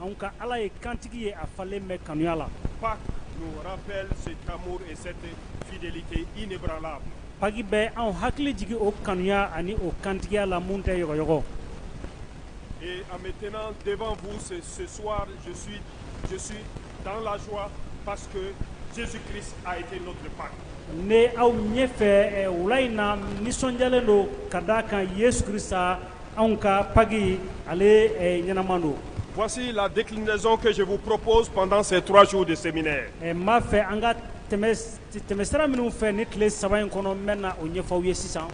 Anw ka Ala ye kantigi ye a falen bɛ kanuya la. Pâques nous rappelle cet amour et cette fidélité inébranlable. Paki bɛ anw hakili jigin o kanuya ani o kantigiya la mun tɛ yɔgɔyɔgɔ. Et en me tenant devant vous ce, ce soir, je suis, je suis dans la joie parce que Jésus-Christ a été notre Pâques. Ne aw ɲɛfɛ eh, wula in na n nisɔndiyalen don ka d'a kan Yesu Krista anw ka paki ale ɲɛnaman don vsi la de son kɛ segu ppos pantan seurasiww de sɛmine ɛ ma fɛ an ka tɛmɛ sira minnu fɛ ni tile saba in kɔnɔ bɛ na o ɲɛfɔw ye sisan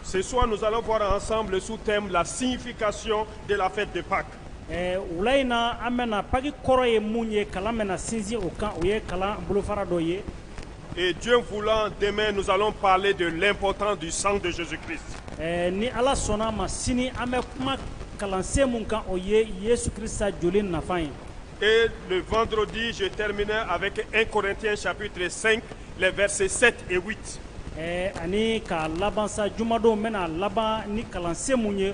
sesuwa'zalɛ fɔra an san su tɛ bila sinfi kasi de la fɛ de pa wula in na an bɛ paki kɔrɔ ye mun ye kalan mɛn na sinsin o kan o ye kalan bolofa dɔ ye Et Dieu voulant, demain nous allons parler de l'importance du sang de Jésus-Christ. Eh, ni Ala sɔnna a ma sini an bɛ kuma kalansen mun kan o ye Yesu Krista joli nafa ye. Et le vendredi, je terminerai avec 1 Corinthiens chapitre 5, les versets 7 et 8. Eh, ani ka laban sa jumadon n bɛna laban ni kalansen mun ye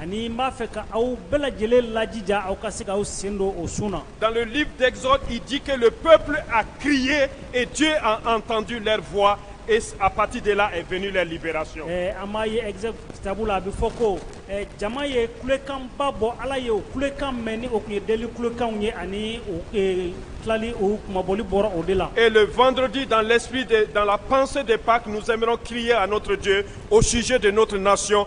Ani n b'a fɛ ka aw bɛɛ lajɛlen lajija aw ka se k'aw sen don o sun na dans le livre d'exode il dit que le peuple a crié et Dieu a entendu leur voix et à partir de là est venue leur libération ɛɛ an b'a ye exode kitabu la a bɛ fɔ ko ɛɛ jama ye kulekanba bɔ Ala ye o kulekan mɛn ni o tun ye deli kulekanw ye ani u ee tilali u kunmabɔli bɔra o de la et le vendredi dans l'esprit de dans la pensée de Pâques nous aimerons crier à notre Dieu au sujet de notre nation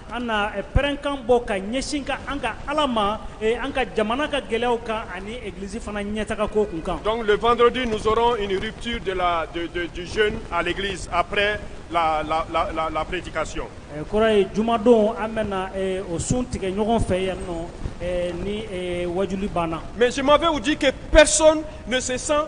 An na pɛrɛnkan bɔ ka ɲɛsin ka an ka ala ma an ka jamana ka gɛlɛya kan ani egiliz fana ɲɛ taga ko kun kan don dɔrɔndi ninnuti de la aliz apɛ lapreti kasi kɔrɔ ye jumadon an bɛ o sun tigɛ ɲɔgɔn fɛ yan nɔ ni wadu banna mɛ semafɛw' kɛ pɛresi san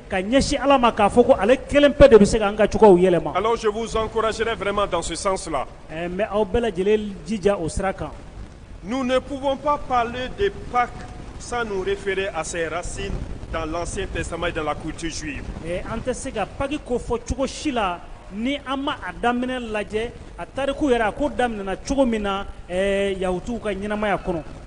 ka ɲɛsin ala ma k'a fɔ ko ale kelen pe de bɛ se ka an ka cogoyaw yɛlɛma alors je vous encouragerai vraiment dans ce sens là eh, n bɛ aw bɛɛ lajɛlen jija o sira kan nous ne pouvons pas parler de Pâques sans nous référer à ses racines dans l'ancien testament et dans la culture juive eh, an tɛ se ka paki ko fɔ cogo si la ni an ma a daminɛ lajɛ a tariku yɛrɛ a ko daminɛna cogo min na eh, yahutuw ka ɲɛnamaya kɔnɔ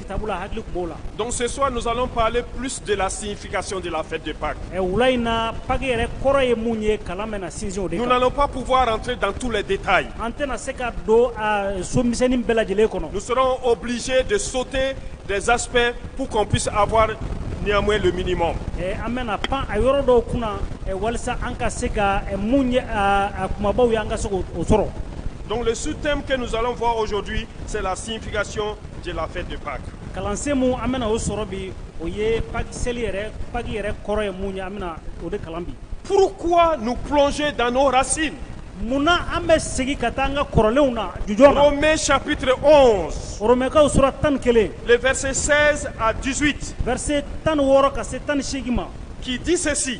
Kitabu la hakili tun b'o la. Donc ce soir nous allons parler plus de la signification de la fête de Pâques. Ɛ wula in na Pâques yɛrɛ kɔrɔ ye mun ye kalan bɛna sinsin o de kan. Nous n'allons pas pouvoir entrer dans tous les détails. An tɛna se ka don a so misɛnnin bɛɛ lajɛlen kɔnɔ. Nous serons obligés de sauter des aspects pour qu'on puisse avoir néanmoins le minimum. Ɛ an bɛna pan a yɔrɔ dɔw kunna ɛ walisa an ka se ka ɛ mun ye a a kumabaw ye an ka se k'o o sɔrɔ. Donc le sous-thème que nous allons voir aujourd'hui, c'est la signification de la fête de Pâques. Kalansen mun an bɛna o sɔrɔ bi o ye Pâques seli yɛrɛ Pâques yɛrɛ kɔrɔ ye mun ye an bɛna o de kalan bi. Pourquoi nous plonger dans nos racines? Munna an bɛ segin ka taa an ka kɔrɔlenw na jujɔn na? Romains chapitre 11. Romainkaw sura tan ni kelen. Les versets 16 à 18. Verset tan ni wɔɔrɔ ka se tan ni seegin ma. Qui dit ceci.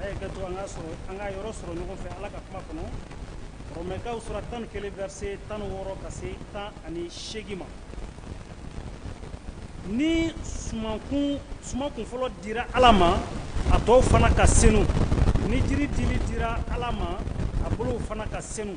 a ye kɛ to an ka sɔrɔ an ka yɔrɔ sɔrɔ ɲɔgɔn fɛ ala ka kuma kɔnɔ rɔmɛkaw sura tan ni kelen verse tan ni wɔɔrɔ ka se tan ani seegin ma ni sumankun sumankun fɔlɔ dira ala ma a tɔw fana ka senu ni jiri dili dira ala ma a bolow fana ka senu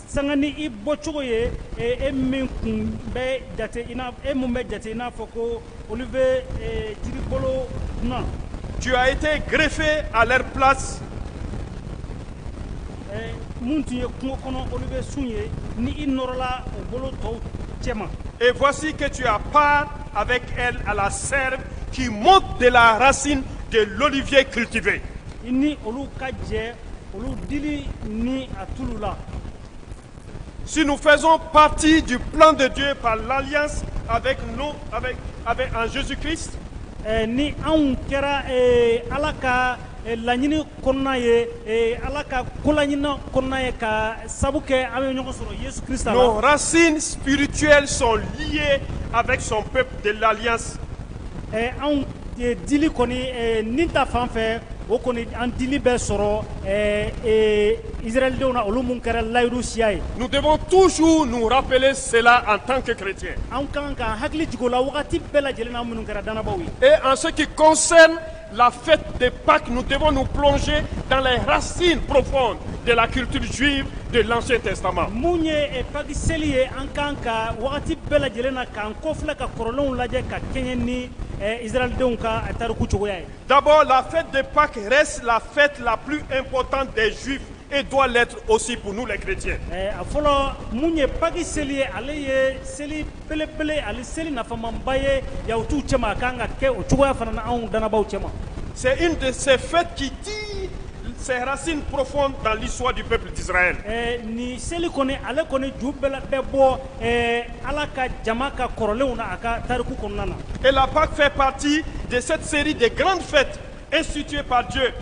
sanga ni i bɔcogo ye e min kun bɛ jate i n'a e mun bɛ jate i n'a fɔ ko olivier jiribolo dunan. tu as été greffé à leur place. mun tun ye kungo kɔnɔ olivier sun ye ni i nɔrɔla o bolo tɔw cɛma. et voici que tu as part avec elle à la sève qui monte de la racine de l'olivier cultivé. i ni olu ka jɛ. Si nous faisons partie du plan de Dieu par l'alliance avec nous, avec, avec en Jésus-Christ, eh, ni anw kɛra eh, ala ka eh, laɲini kɔnɔna ye eh, ala ka kolaɲini kɔnɔna ye ka sabu kɛ an bɛ ɲɔgɔn sɔrɔ yesu krista la nos racines spirituelles sont liées avec son peuple de l'alliance. eh, anw Dili ni ta fan fɛ o kɔni an dili bɛ sɔrɔ zralidenw na olu minnu kɛra layiuru siya ye nu de tusu ninnuurapele senla an tan kɛ kɛlɛti an kan ka hakili jigin la waati bɛɛ lajɛlen minnu kɛra dabaa ye ee an seke kɔsɛ lafifɛ de ba tun de niu plɔnse dalasi pfɔ de la kiiritisu de la tɛ saba minnu ye pakiseli ye an kan ka waati bɛɛ lajɛlen na k'an kɔfi ka kɔrɔlenw lajɛ ka kɛɲɛ ni Idalidenw ka tariku cogoya ye dabɔ la de pa la la eptan dez e dɔgɔ osi kun n'u la kiiric a fɔlɔ minnu ye paki seli ye ale ye seli pelepele ani seli nafamaba ye yahutu cɛ a kan ka kɛ o cogoya fana na anw dabaa cɛ sɛ in de sɛ kiti ci sɛrasin porof tali sodi peptise nin seli kɔni ale kɔni ju bɛɛ bɛ bɔ Ala ka jama ka kɔrɔlenw na a ka tariku kɔnɔna na. Et la Pâque fait partie de cette série de grandes fêtes instituées par Dieu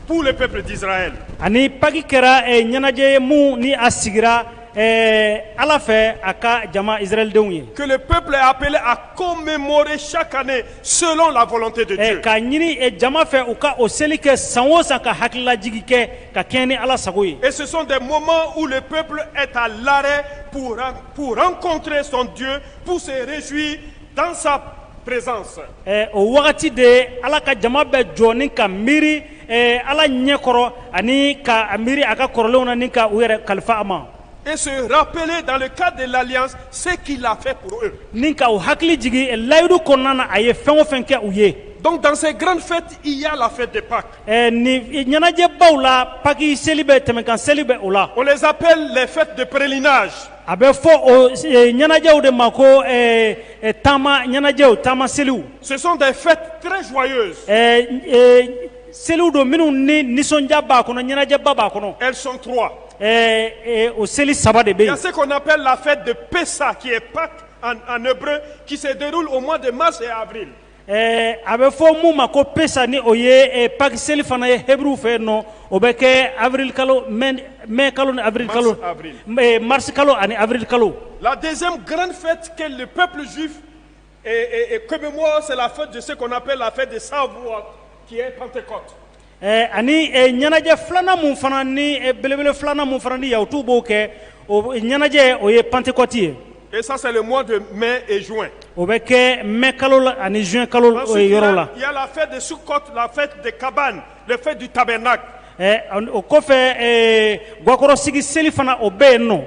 pour le peuple d'Israël. Ani Pâque kɛra eh, ɲɛnajɛ ye mun ni a sigira eh, Ala fɛ a ka jama Israɛldenw ye. Que le peuple est appelé à commémorer chaque année selon la volonté de Eh, Dieu. K'a ɲini eh, jama fɛ u ka o seli kɛ san o san ka hakililajigi kɛ ka kɛɲɛ ni Ala sago ye. Et ce sont des moments où le peuple est à l'arrêt pour rendre Pour rencontrer son Dieu, pour se réjouir dans sa présence. Eh, o wagati de Ala ka jama bɛ jɔ ni ka miiri eh, Ala ɲɛkɔrɔ ani ka miiri a ka kɔrɔlenw na ni ka u yɛrɛ kalifa a ma. et se rappeler dans le cadre de l'alliance ce qu'il a fait pour eux. Ni ka u hakili jigin eh, layidu kɔnɔna na a ye fɛn o fɛn kɛ u ye. Donc dans ces grandes fêtes, il y a la fête de Pâques. Ɛ nin ɲɛnajɛbaw la paki seli bɛ tɛmɛkan seli bɛ o la o zp fɛ deprlinna a bɛ fɔ o ɲɛnajɛw de ma ko taama ɲɛnajɛw taama selieli sonsan tɛ fɛn tsuman ye seliw don minnu ni nisɔndiya b'a kɔnɔ ɲɛnajɛba b'a kɔnɔ sɔntu o seli saba de bɛ se kɔnɔ bɛ lafifɛ de pe sa k'i ye pa ani bolo kisedu o ma de ma se a Ɛɛ a bɛ fɔ min ma ko pesa ni o ye pakisɛ selieli fana ye buru fɛ yen nɔ o bɛ kɛ abiri kalo mɛ kalo ni abiri kalo mari kalo ani abiri kalo la dɛsɛ garanfɛ ppsi kɔmi bɛsela fɔ dese kɔnɔ bɛ la de sa k'i ye kɔn tɛ kɔ Ɛɛ ani ɲɛnajɛ filanan min fana ni belebele filanan min fana ni yahutuw b'o kɛ o ɲɛnajɛ o ye Pantekɔti ye et ça c'est le mois de mai et juin o bɛ kɛ mai kalo la ani juin kalo yɔrɔ la ensuite il y a la fête de Soukkot la fête des cabanes la fête du tabernacle o kɔfɛ gakɔrɔsigi seli fana o bɛ yen nɔ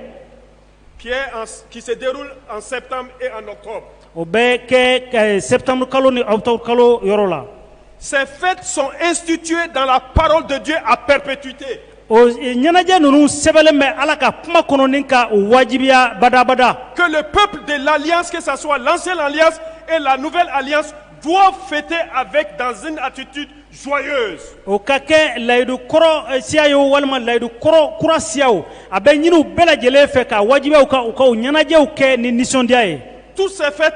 qui est en, qui se déroule en septembre et en octobre. O bɛ kɛ eh, septembre kalo ni octobre kalo yɔrɔ la. Ces fêtes sont instituées dans la parole de Dieu à perpétuité. O eh, ɲɛnajɛ ninnu sɛbɛnlen bɛ Ala ka kuma kɔnɔ ni ka o wajibiya badabada. Que le peuple de l'alliance, que ça soit l'ancienne alliance et la nouvelle alliance, doivent fêter avec dans une attitude O ka kɛ layidu kɔrɔ siya ye walima layidu kɔrɔ kura siya o a bɛ ɲini u bɛɛ lajɛlen fɛ k'a wajibiya u kan u ka o ɲɛnajɛw kɛ ni nisɔndiya ye toutes ces fêtes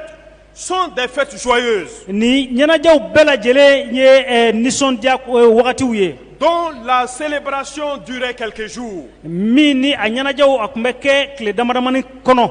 sont des fêtes joyeuses nin ɲɛnajɛw bɛɛ lajɛlen ye nisɔndiya wagatiw ye dont la célébration durait quelques jours min ni a ɲɛnajɛw a tun bɛ kɛ tile damadamani kɔnɔ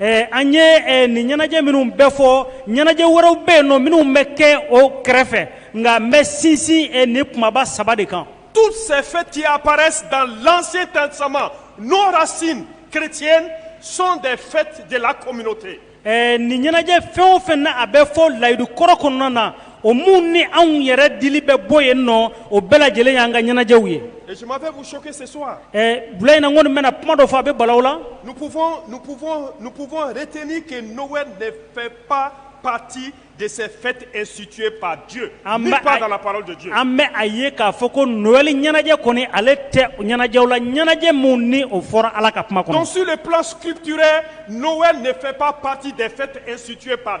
Ɛɛ an ye nin ɲɛnajɛ minnu bɛɛ fɔ ɲɛnajɛ wɛrɛw bɛ yen nɔ minnu bɛ kɛ o kɛrɛfɛ nka n bɛ sinsin nin kumaba saba de kan toutes ces fêtes qui apparaissent dans l'Ancien Testament nos racines chrétiennes sont des fêtes de la communauté ɛɛ nin ɲɛnajɛ fɛn o fɛn na a bɛ fɔ layidu kɔrɔ kɔnɔna na O minnu ni anw yɛrɛ dili bɛ bɔ ye nɔ o bɛɛ lajɛlen y'an ka ɲɛnajɛw ye bila in kɔni bɛna kuma dɔ fɔ a bɛ bala la pati de suti an bɛ a ye k'a fɔ ko ɲɛnajɛ kɔni ale tɛ ɲɛnajɛ la ɲɛnajɛ minnu ni o fɔra ala ka kuma kɔnɔ su de pti n'o pati de suti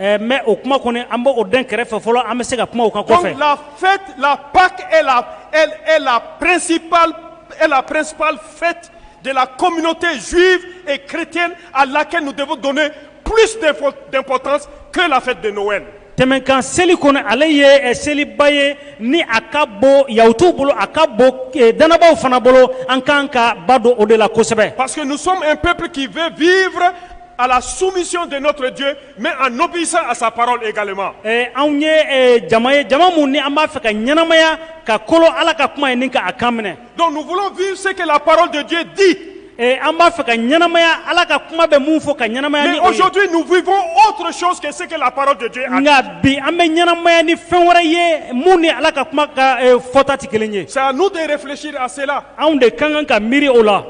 Ɛɛ mais o kuma kɔni an b'o dɛn kɛrɛfɛ fɔlɔ an bɛ se ka kuma o kan kɔfɛ. Donc la fête, la Pâque est la elle est la principale est la principale fête de la communauté juive et chrétienne à laquelle nous devons donner plus d'importance que la fête de Noël. Tɛmɛnkan seli kɔni ale ye seliba ye ni a ka bon yahutuw bolo a ka bon dannabaaw fana bolo an ka kan ka ba don o de la kosɛbɛ. Parce que nous sommes un peuple qui veut vivre à la soumission de notre Dieu, mais en obéissant à sa parole également. Eh, anw ye eh, jama ye jama mun ni an b'a fɛ ka ɲɛnamaya ka kolo Ala ka kuma ye ni ka a kan minɛ. Donc nous voulons vivre ce que la parole de Dieu dit. Eh, an b'a fɛ ka ɲɛnamaya Ala ka kuma bɛ mun fɔ ka ɲɛnamaya ni o ye. Mais aujourd'hui nous vivons autre chose que ce que la parole de Dieu a dit. Nka bi an bɛ ɲɛnamaya ni fɛn wɛrɛ ye mun ni Ala ka kuma ka eh, fɔta tɛ kelen ye. C'est à nous de réfléchir à cela. Anw de ka kan ka miiri o la.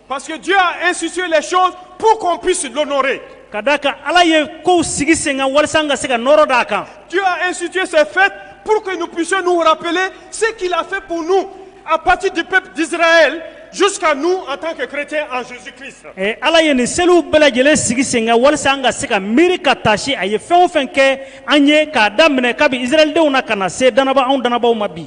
Parce que Dieu a institué les choses pour qu'on puisse l'honorer. Ka d'a kan Ala ye kow sigi sen kan walasa an ka se ka nɔɔrɔ d'a kan. Dieu a institué ces fêtes pour que nous puissions nous rappeler ce qu'il a fait pour nous à partir du peuple d'Israël jusqu'à nous en tant que chrétiens en Jésus-Christ. Eh, Ala ye nin seliw bɛɛ lajɛlen sigi sen kan walasa an ka se ka miiri ka taasi a ye fɛn o fɛn kɛ an ye k'a daminɛ kabi Israɛldenw na ka na se dannabaa anw dannabaaw ma bi.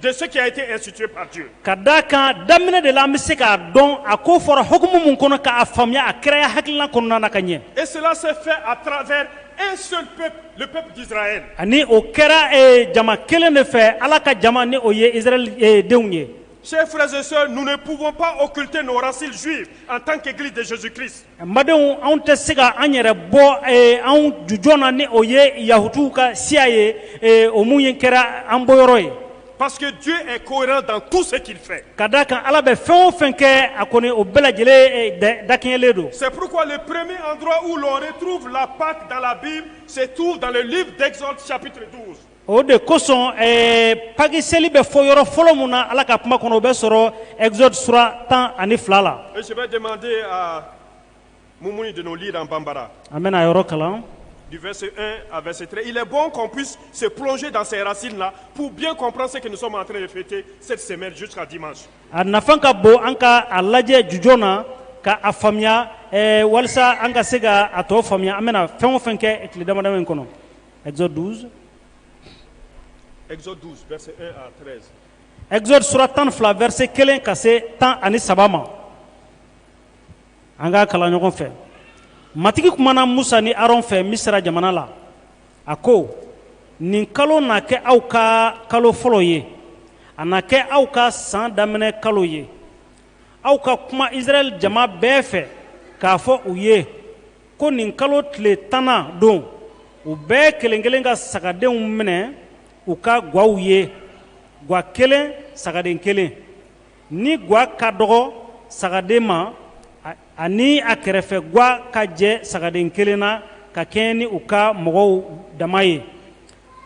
de ce qui a été institué par Dieu. Ka d'a kan daminɛ de la an bɛ se k'a dɔn a ko fɔra hukumu mun kɔnɔ k'a faamuya a kiraya hakilina kɔnɔna na ka ɲɛ. Et cela s'est fait à travers un seul peuple, le peuple d'Israël. Ani o kɛra eh, jama kelen de fɛ Ala ka jama ni o ye Israɛl eh, denw ye. Chers frères et sœurs, nous ne pouvons pas occulter nos racines juives en tant qu'Église de Jésus-Christ. Madenw anw tɛ se ka an yɛrɛ bɔ anw jujj na ni o ye yahutuw ka siya ye o minnu ye kɛra an bɔ yɔrɔ ye pa que ko dan tu se k'i fɛ ka da a kan ala bɛ fɛn o fɛn kɛ a kɔni o bɛɛ lajɛlen da kelen don seurue preme anur u la tuuru fila pada la bi se tu dalen dɛsɛp o de kosɔn ɛɛ paki seli bɛ fɔ yɔrɔ fɔlɔ min na ala ka kuma kɔnɔ o bɛ sɔrɔ exode sura tan ani fila la Et je vais demander à Moumouni de nous lire en Bambara. an bɛna a yɔrɔ kalan Du verset 1 à verset 3. Il est bon qu'on puisse se plonger dans ces racines-là pour bien comprendre ce que nous sommes en train de fêter cette semaine jusqu'à dimanche. a nafan ka bon an ka a lajɛ jujɔn na ka a faamuya ɛɛ walisa an ka se ka a tɔ faamuya an bɛna fɛn o fɛn kɛ tile damadama in kɔnɔ Exode 12. Exode 12 verset 1 à 13. Exode sura tan ni fila verset kelen ka se tan ani saba ma an k'a kalan ɲɔgɔn fɛ matigi kumana musa ni aron fɛ misira jamana la a ko nin kalo na kɛ aw ka kalo fɔlɔ ye a na kɛ aw ka san daminɛ kalo ye aw ka kuma israɛl jama bɛɛ fɛ k'a fɔ u ye ko nin kalo tile tannan don u bɛɛ kelen kelen ka sagadenw minɛ u ka gwaw ye gwa kelen sagaden kelen ni gwa ka dɔgɔ sagaden ma a ni a kɛrɛfɛ gwa ka jɛ sagaden kelen na ka kɛɲɛ ni u ka mɔgɔw dama ye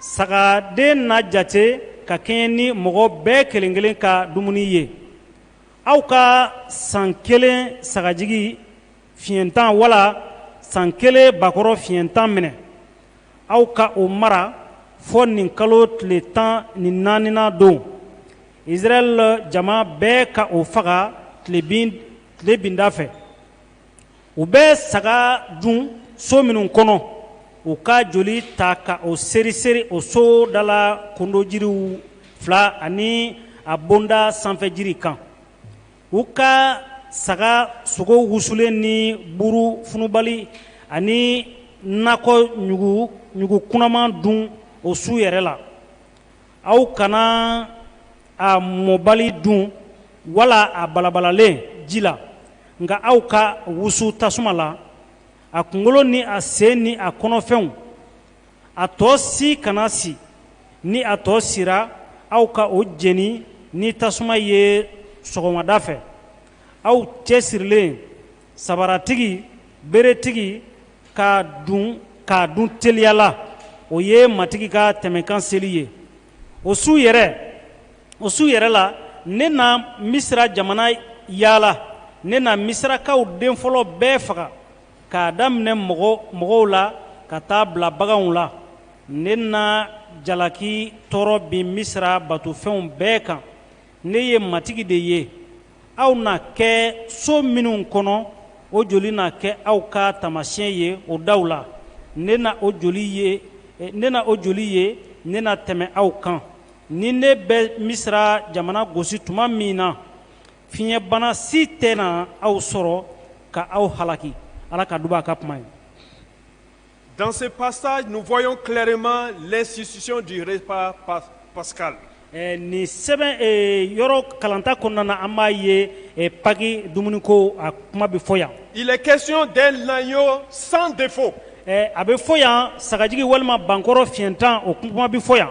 sagaden na jate ka kɛɲɛ ni mɔgɔ bɛɛ kelen kelen ka dumuni ye aw ka san kelen sagajigi Fiɲɛtan wala san kelen bakɔrɔ fiɲɛtan minɛ aw ka o mara fɔ nin kalo tile tan ni naaninan don israɛl jama bɛɛ ka o faga tilebinda fɛ u bɛ saga dun so minnu kɔnɔ u ka joli ta ka o seri seri o so da la kondojiriw fila ani a bonda sanfɛ jiri kan u ka saga sogo wusulen ni buru funubali ani nakɔ ɲugu kunaman dun o su yɛrɛ la aw kana a mɔbali dun wala a balabalalen ji la nka aw k'a wusu tasuma la a kunkolo ni a sen ni a kɔnɔfɛnw a tɔ si kana si ni a tɔ sira aw ka o jeni ni tasuma ye sɔgɔmada fɛ aw cɛ sirilen sabaratigi beretigi k'a dun k'a dun teliya la o ye matigi ka tɛmɛkan seli ye o su yɛrɛ o su yɛrɛ la ne na misira jamana yaala ne na misirakaw den fɔlɔ bɛɛ faga k'a daminɛ mɔgɔ mɔgɔw la ka taa bila baganw la ne na jalaki tɔɔrɔ bin misira batofɛnw bɛɛ kan ne ye matigi de ye aw na kɛ so minnu kɔnɔ o joli na kɛ aw ka taamasiyɛn ye o daw la ne na o joli ye eh, ne na o joli ye ne na tɛmɛ aw kan ni ne bɛ misira jamana gosi tuma min na fiɲɛbana si tɛna aw sɔrɔ ka aw halaki ala ka duba a ka kuma ye Dans ce passage, nous voyons clairement l'institution du repas pas- pascal. Eh, nin sɛbɛn eh, yɔrɔ kalanta kɔnɔna na an b'a ye eh, paki dumuniko a kuma bɛ fɔ yan Il est question d'un agneau sans défaut. Eh, a bɛ fɔ yan sagajigi walima bankɔrɔ fiɲɛtan o kuma bɛ fɔ yan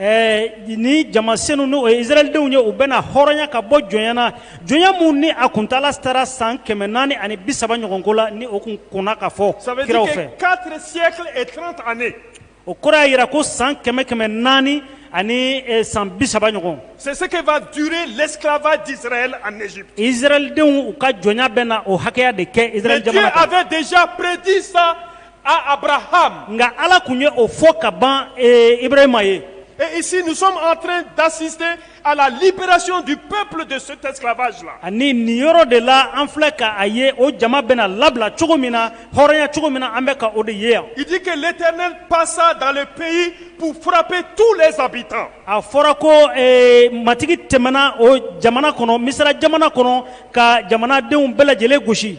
Ɛɛ ni jama sen n' zalidenw ye u bɛna hɔrɔnya ka bɔ jɔnɲɛna jɔn minnu ni a kun taala sera san kɛmɛ naani ani bi saba ɲɔgɔn ko la ni o kun kɔnɔ ka fɔ kiraw fɛ o kura y'a jira ko san kɛmɛ kɛmɛ naani ani san bi saba ɲɔgɔn sesefaa du lafa zalidenw u ka jɔn bɛ na o hakɛya de kɛ zja a bɛ dezpredi sa à Abraham. Nga Ala kun ye o fɔ ka ban eh, Ibrahima ye. Et ici, nous sommes en train d'assister à la libération du peuple de cet esclavage-là. Ani nin yɔrɔ de la, an filɛ ka a ye o jama bɛna labila cogo min na, hɔrɔnya cogo min na, an bɛ ka o de ye yan. Il dit que l'Éternel passa dans le pays pour frapper tous les habitants. A fɔra ko eh, matigi tɛmɛna o jamana kɔnɔ, Misira jamana kɔnɔ ka jamanadenw bɛɛ lajɛlen gosi.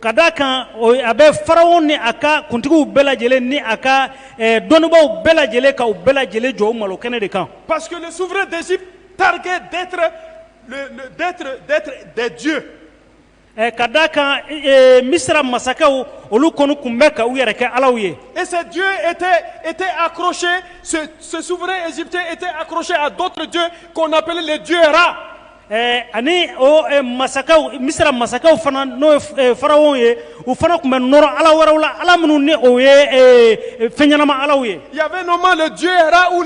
ka d' a kan a bɛ faraw ni a ka kuntigiw bɛɛ lajɛlen ni a ka dɔnnibaw bɛɛ lajɛlen ka bɛɛ lajɛlen jɔ malo kɛnɛ de kan pa que ni suforo dɛsɛsi tari dɛju ka d' a kan misi masakɛ olu kɔni tun bɛ ka u yɛrɛ kɛ ala ye ezju e tɛ e tɛ akosi suforoete e tɛ a kosi a dɔj kɔnɔnapelelɛjuuyara Ɛɛ ani masakɛ misi sera masakɛw fana n'o faraw ye u fana tun bɛ nɔrɔ ala wɛrɛw la ala minnu ni o ye fɛn ɲɛnama ala ye ya u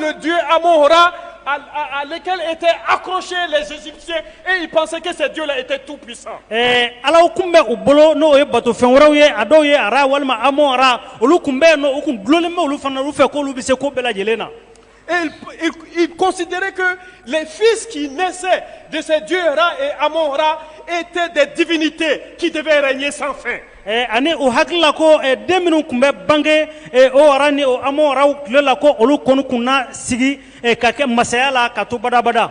ale e tɛ asɛ e pakisɛsɛ jo e tɛ tu ala tun bɛ u bolo n'o ye bato fɛn wɛrɛw ye a dɔw ye ara walima a olu tun bɛ yen u tun duin olu fana olu fɛ k'olu bɛ se ko bɛɛ lajɛlen na ils considéraient que les fils qui naissaient de ces dieux Ra et Amon-Ra étaient des divinités qui devaient régner sans fin. Eh, ani o hakili la ko eh, den minnu kun bɛ bange eh, o Ra ni o Amon-Raw tile la ko olu kɔni kun na sigi ka kɛ masaya la ka to badabada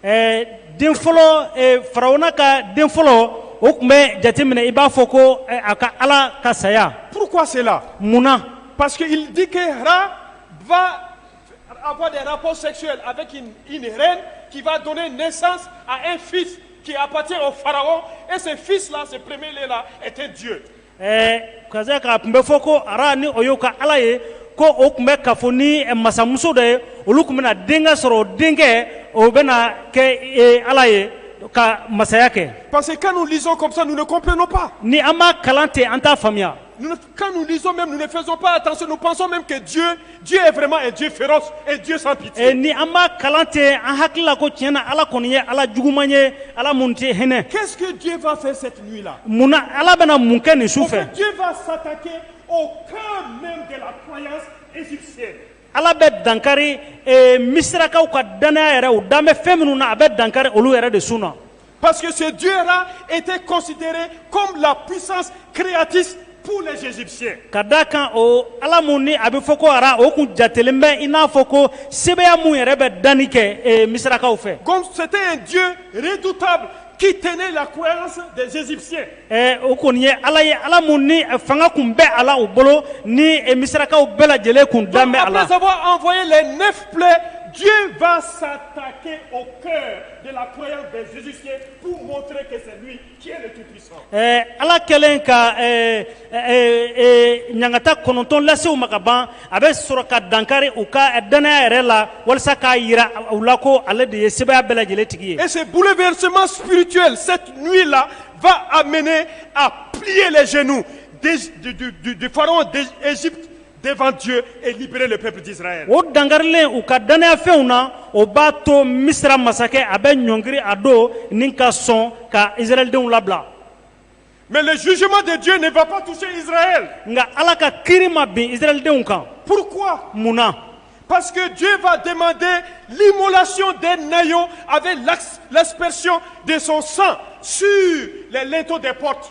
Ɛɛ den fɔlɔ fararawuna ka den fɔlɔ o tun bɛ jateminɛ i b'a fɔ ko a ka ala ka saya pur selen munna pa dike fa a ko sɛ a bɛ k' i nin k'i ba don ne sa a e fi k'ipte o fara ese fi se pereb la e tɛ diɲɛ Ɛɛ karamɔgɔsa k'a tun bɛ fɔ ko ara ni o y'o ka ala ye ko o tun bɛ ka fɔ ni masamuso dɔ ye olu tun bɛ denkɛ sɔrɔ o denkɛ o bɛ kɛ ala ye ka masaya kɛ pa que kanu kɔsa kop ni an ma kalan tɛ an t' faamuya kanu bɛ fɛnsosa kɛ diɲɛ Dieu est vraiment un Dieu féroce un Dieu sans pitié. Eh ni an b'a kalan ten an hakili la ko tiɲɛ na Ala kɔni ye Ala juguman ye Ala mun tɛ hinɛ. Qu'est-ce que Dieu va faire cette nuit-là? Mun na Ala bɛna mun kɛ nin su fɛ? Dieu va s'attaquer au cœur même de la croyance égyptienne. Ala bɛ dankari eh, misirakaw ka dannaya yɛrɛ u dan bɛ fɛn minnu na a bɛ dankari olu yɛrɛ de sun na. Parce que ce Dieu-là était considéré comme la puissance créatrice pour les Égyptiens. Ka da kan o Ala mun ni a bɛ fɔ ko ara o kun jatelen bɛ i n'a fɔ ko sebaya mun yɛrɛ bɛ danni kɛ eh, misirakaw fɛ. Comme c'était un Dieu redoutable qui tenait la croyance des Égyptiens. Eh, o kɔni ye Ala ye Ala mun ni eh, fanga kun bɛ a la u bolo ni eh, misirakaw bɛɛ lajɛlen kun dan bɛ a la. Après avoir envoyé les neuf plaies, Dieu va s'attaquer au cœur de la croyance des Égyptiens pour montrer que c'est lui qui est le Tout-Puissant. Eh, ala kɛlen ka eh, eh, eh, ɲangata kɔnɔntɔn lase u ma ka ban a bɛ sɔrɔ ka dankari u ka eh, dannaya yɛrɛ la walasa k'a yira u la ko ale de ye sebaya bɛɛ lajɛlen tigi ye Et ce bouleversement spirituel, cette nuit-là, va amener à plier les genoux des- du, du- du- du pharaon d'Égypte devant Dieu et libérer le peuple d'Israël. o dankarilen u ka dannayafɛnw na o b'a to misira masakɛ a bɛ ɲɔngiri a don ni ka sɔn ka israɛldenw labila Mais le jugement de Dieu ne va pas toucher Israël. nka ala ka kiri ma bin israɛldenw kan Pourquoi mun na Parce que Dieu va demander l'immolation d'un agneau avec l'ax- l'aspersion de son sang sur les linteaux des portes.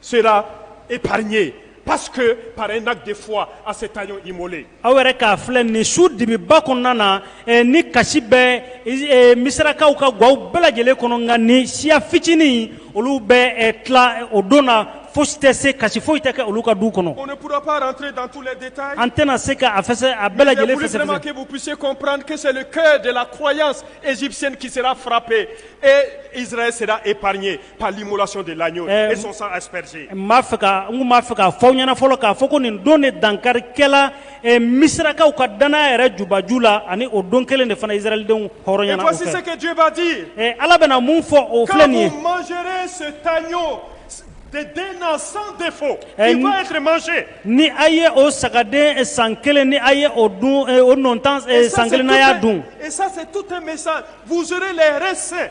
sera épargné parce que par un acte de foi à cet agneau immolé. aw yɛrɛ k'a filɛ nin su dibiba kɔnɔna na eh, ni kasi bɛ eh, misirakaw ka gwaw bɛɛ lajɛlen kɔnɔ nka nin siya fitinin olu bɛ eh, tila eh, o don na fosi tɛ se kasi foyi tɛ kɛ olu ka du kɔnɔ On ne pourra pas rentrer dans tous les détails. an tɛna se ka a fɛsɛ a bɛɛ lajɛlen fɛsɛfɛsɛ Je voulais vraiment que vous puissiez comprendre que c'est le cœur de la croyance égyptienne qui sera frappé et Israël sera épargné. par l'immolation de l'agneau et son sang aspergé. N b'a fɛ ka n kun b'a fɛ k'a fɔ aw ɲɛna fɔlɔ k'a fɔ ko nin don de dankari kɛla Misirakaw ka dannaya yɛrɛ jubaju la ani o don kelen de fana Israɛlidenw hɔrɔnyana o fɛ. Et voici ce que Dieu va dire. Ɛ Ala bɛna mun fɔ o filɛ nin ye. Quand vous mangerez cet agneau d'un an sans défaut, il va être mangé. Ni a ye o sagaden san kelen ni a ye o dun o nɔntan san kelen n'a y'a dun. Et ça c'est tout un message, vous aurez les reins ceints.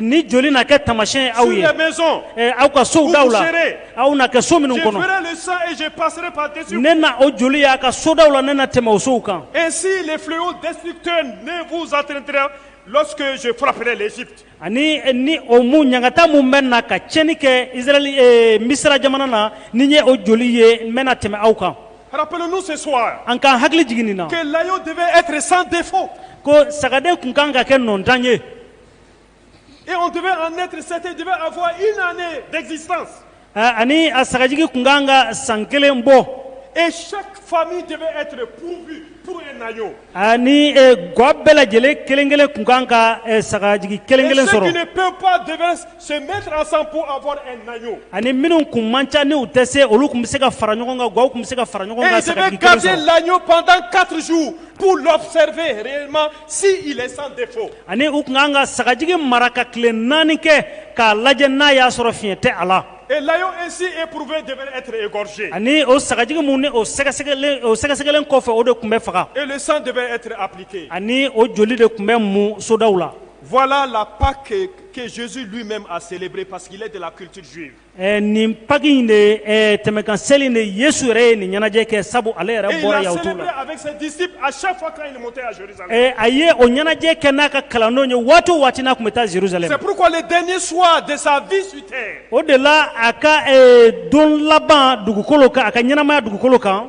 Ni joli na kɛ tamasiɲɛ ye aw ye. Sur les maisons. Ɛɛ aw ka sow daw la. Où vous serez. Aw na kɛ so minnu kɔnɔ. Je verrai le sang et je passerai par-dessus vous. Ne na o joli ye a ka so daw la, ne na tɛmɛ o sow kan. Ainsi le fléau destructeur ne vous atteindra lorsque je frapperai l'Égypte. Ani ni o mun ɲangata mun bɛ na ka tiɲɛni kɛ Israël ee Misira jamana na, ni n ye o joli ye, n bɛ na tɛmɛ aw kan. Rappelons-nous ce soir. An k'an hakili jigin nin na. Que l'agneau devait être sans défaut. Ko sagaden tun ka kan ka kɛ nɔntan ye. Et on devait en être certain, devait avoir une année d'existence. Ani a sagajigi tun kan ka san kelen bɔ. Et chaque famille devait être pourvue pour un agneau. Ani gwa bɛɛ lajɛlen kelen kelen tun kan ka sagajigi kelen kelen sɔrɔ. Et ceux qui ne peuvent pas devaient se mettre ensemble pour avoir un agneau. Ani minnu tun man ca n'u tɛ se olu tun bɛ se ka fara ɲɔgɔn kan gwaw tun bɛ se ka fara ɲɔgɔn kan sagajigi kelen sɔrɔ. Et ils devaient garder l'agneau pendant quatre jours pour l'observer réellement. Si il est sans défaut ani u tun ka kan ka sagajigi mara ka tile naani kɛ k'a lajɛ n'a y'a sɔrɔ fiɲɛ tɛ a la, et l'agneau ainsi éprouvé devait être égorgé ani o sagajigi mun ni o sɛgɛsɛgɛlen o sɛgɛsɛgɛlen kɔfɛ o de tun bɛ faga et le sang devait être appliqué ani o joli de tun bɛ mu sodaw la. Voilà la Pâque que Jésus lui-même a célébrée parce qu'il est de la culture juive Eh, nin paki in de eh, tɛmɛkan seli de yesu yɛrɛ ye nin ɲɛnajɛ kɛ sabu ale yɛrɛ bɔra yahutu la eh, a ye o ɲɛnajɛ kɛ n'a ka kalandenw ye waati o waati n'a tun bɛ taa jerusalem o de la a ka don laban dugukolo kan a ka ɲɛnamaya dugukolo kan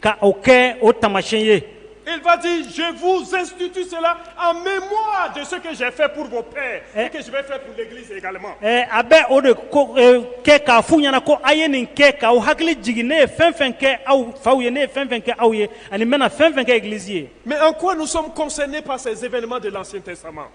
ka o kɛ o tamasi ye eti zffu sentutise a bɛ mɔ de se ka shɛfɛ purpe a bɛ o de kɛ k'a fu ɲɛna ko a ye nin kɛ k'aw hakili jigin ne ye fɛn fɛn kɛ aw faw ye ne ye fɛn fɛn kɛ aw ye ani bɛna fɛn fɛn kɛ gilisi ye Mɛ an ko nisɔn kɔsɔn ne pa sɛbɛnbɛnlima de la sen tɛ sama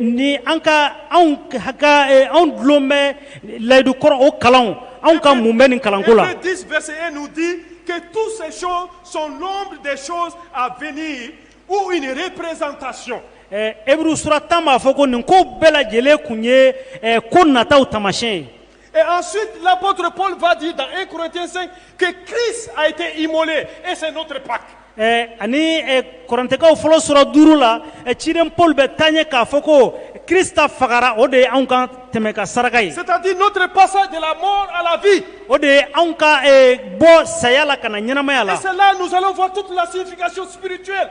ni an ka anw anw dulon bɛ layidu kɔrɔ o kalan anw ka mun bɛ nin kalanko la di bɛ se e di ka tu se son son de son a v u nin yɛrɛ perezsan ka son ɛ euru sula tan b'a fɔ ko nin ko bɛɛ lajɛlen tun ye ko nataw tamasiɲɛ ye Et ensuite, l'apôtre Paul va dire dans 1 Corinthiens 5 que Christ a été immolé et c'est notre Pâque. Eh, ani eh, korɛntikaw fɔlɔ sura duuru la eh, ciden paul bɛ taa ɲɛ k'a fɔ ko krista fagara o de ye anw ka tɛmɛkan saraka ye c'est-à-dire notre passage de la mort à la vie o de ye anw ka bɔ saya la ka na ɲɛnamaya la et c'est là nous allons voir toute la signification spirituelle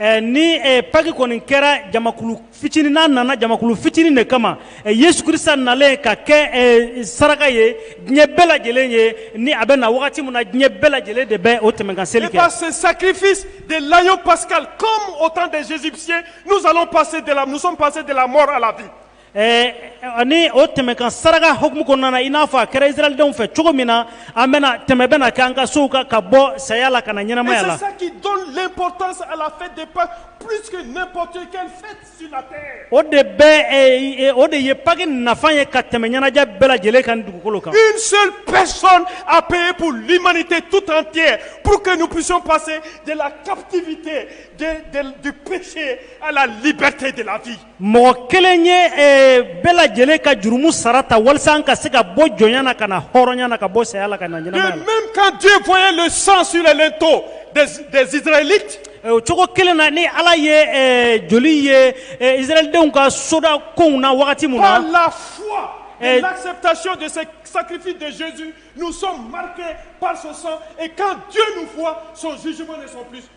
Ɛ ni ɛ paki kɔni kɛra jamakulu fitinin n'a nana jamakulu fitinin de kama ɛ Yesu Krisita nalen ka kɛ ɛ saraka ye diɲɛ bɛɛ lajɛlen ye ni a bɛ na wagati min na diɲɛ bɛɛ lajɛlen de bɛ o tɛmɛkan seli kɛ. Et par ce sacrifice de l'agneau pascal comme au temps des Égyptiens nous allons passer de la nous sommes passés de la mort à la vie ani o tɛmɛ ka saraka hkumu kɔnɔna i n'a fɔ a kɛra siradenw fɛ cogo min na an bɛna tɛmɛ bɛna kɛ an ka so kan ka bɔ saya la ka na ɲɛnamaya la o de bɛ o de ye paki nafa ye ka tɛmɛ ɲɛnajɛ bɛɛ lajɛlen ka dugukolo kan a bɛp mali tɛ tu tan tɛ pur que ni psɔn pase de la ptigi tɛ duse a la libite de lafi mɔgɔ kelen ye eh, bɛɛ lajɛlen ka jurumu sara ta walisa an ka se ka bɔ jɔnya na ka na hɔrɔnya na ka bɔ saya la ka na ɲɛnamaya la. Même quand Dieu voyait le sang sur les linteaux des, des Israélites, Eh, o cogo kelen na ni ala ye eh, joli ye eh, israɛlidenw ka soda konw na wagati min na par la foi et Eh. l'acceptation de ce sacrifice de Jésus, nous sommes marqués par son sang. Et quand Dieu nous voit, son jugement ne sont plus.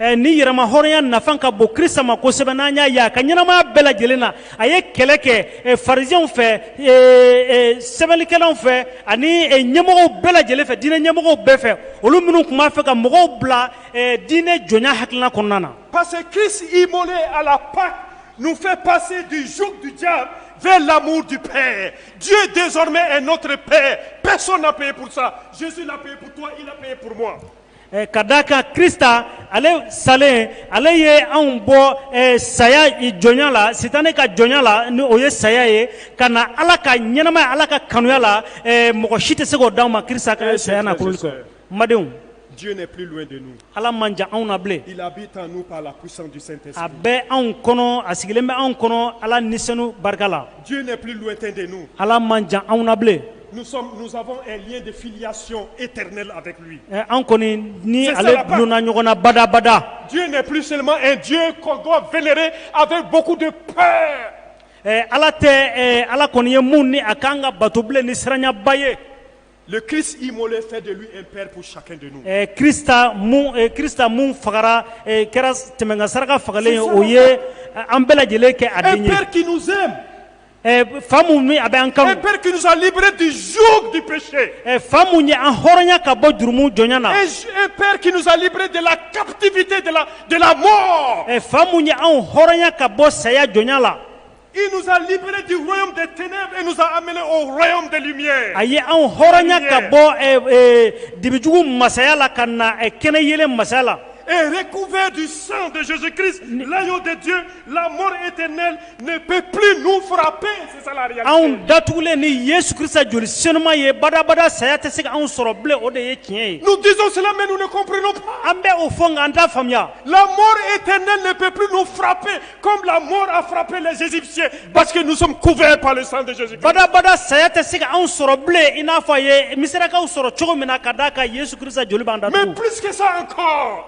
ɛ ni yɛrɛmahɔrɔnya nafan ka bon krista ma kosɛbɛ n'an y'a ye a ka ɲɛnamaya bɛɛ lajɛlen na a ye kɛlɛ kɛ ɛ farisiɛnw fɛ ɛ ɛ sɛbɛnnikɛlaw fɛ ani ɛ ɲɛmɔgɔw bɛɛ lajɛlen fɛ diinɛ ɲɛmɔgɔw bɛɛ fɛ olu minnu tun b'a fɛ ka mɔgɔw bila ɛ diinɛ jɔnya hakilina kɔnɔna na Parce que Christ immolé à la Pâque nous fait passer du joug du diable vers l'amour du Père. Dieu désormais est notre Père. Personne n'a payé pour ça. Jésus l'a payé pour toi, il a payé pour moi. Ka da a ka kisa ale salen ale ye anw bɔ saya jɔnya la si tan ne ka jɔnya la ni o ye saya ye ka na ala ka ɲɛnɛma ala ka kanuya la mɔgɔ si tɛ se k' d aw ma ki ka saya na madenw ala man jan anw na bilen a bɛ anw kɔnɔ a sigilen bɛ anw kɔnɔ ala ni barika la ala man jan anw na bilen Nous sommes, nous avons un lien de filiation éternelle avec lui. Eh, an kɔni ni ale dulonna ɲɔgɔn na badabada Dieu n'est plus seulement un Dieu qu'on doit vénérer avec beaucoup de peur. Eh, ala tɛ eh, ala kɔni ye mun ni a kan ka bato bilen ni siranyaba ye Le Christ immolé fait de lui un père pour chacun de nous. Eh, krista mun eh, krista mun fagara eh, kɛra tɛmɛnkan saraka fagalen ye o ye eh, an bɛɛ lajɛlen kɛ a den ye Un père qui nous aime. Fa min a bɛ an kan bɛkisɛsalibrɛ tɛ z bipse fa ye an hɔrɔnya ka bɔ jurumu jɔn na pɛrerkisɛsalibrɛ de la katifit dela mɔ fa ye anw hɔrɔnya ka bɔ saya jɔn la izalibrɛ de tɛnɛnsan a ye anw hɔrɔnya ka bɔ dibijugu masaya la ka na kɛnɛ ye masaya la eee kunfɛ de san bɛki la tɛ lamɔ e tɛ ne peut plus nous frapper, c'est ça la réalité. Anw datugulen ni Yesu Krista joli senuma ye badabada saya tɛ se ka anw sɔrɔ bilen o de ye tiɲɛ ye. Nous disons cela mais nous ne comprenons pas. An bɛ o fɔ nka an t'a faamuya. La mort éternelle ne peut plus nous frapper comme la mort a frappé les Égyptiens parce que nous sommes couverts par le sang de Jésus-Christ. Badabada saya tɛ se ka anw sɔrɔ bilen i n'a fɔ a ye Misirakaw sɔrɔ cogo min na ka d'a kan Yesu Krista joli b'an datugu. Mais plus que ça encore.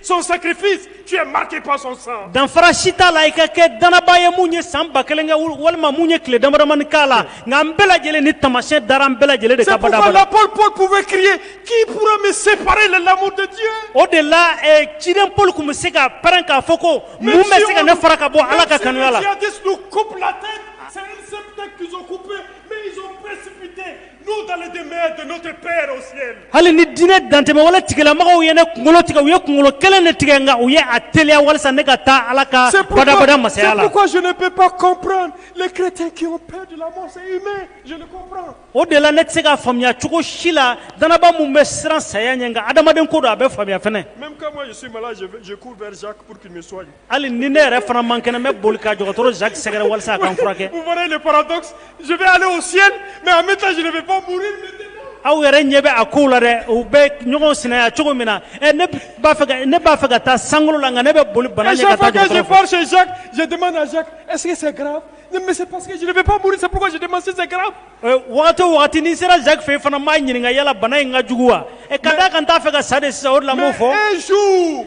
Son sacrifice tu es marqué par son sang danfara si t'a la i ka kɛ danaba ye mun ye san ba kelen kɛ walima mun ye tile damadamani k'a la nka an bɛɛ lajɛlen ni taamasiyɛn dara an bɛɛ lajɛlen de kan badabada c'est pourquoi l'apôtre Paul pouvait crier qui pourra me séparer de l'amour de Dieu o de la eh, ciden Paul kun bɛ se ka pɛrɛn k'a fɔ ko mun bɛ se ka ne fara ka bɔ Ala ka kanuya la Hali ni diinɛ dantɛmɛwale tigilamɔgɔw ye ne kunkolo tigɛ u ye kunkolo kelen de tigɛ nka u ye a teliya walasa ne ka taa ala ka badabada masaya la o de la ne tɛ se ka faamuya cogo si la danaba mun bɛ siran saya ɲɛ nka adamaden ko don a bɛ faamuya hali ni ne yɛrɛ fana man kɛnɛ n bɛ boli ka dɔgɔtɔrɔ Jacques sɛgɛrɛ walasa a ka n furakɛ. Vous voyez le paradoxe? Je veux aller au ciel mais en même temps je ne veux pas mourir aw yɛrɛ ɲɛ bɛ a kow la dɛ u bɛ ɲɔgɔn sinaya cogo min na ɛ ne b'a fɛ ka ne b'a fɛ ka taa sankolo la nka ne bɛ boli bana ɲɛ ka taa dɔgɔtɔrɔ fɛ. Chaque fois que je pars chez Jacques je demande à Jacques est-ce que c'est grave? Non mais c'est parce que je ne veux pas mourir c'est pourquoi je demande si c'est grave. Waati waati ni sera zan fɛ fana maa ɲininka yalala bana in ka jugu wa ka da kan t'a fɛ ka sa de sa o lamɔ fɔ e su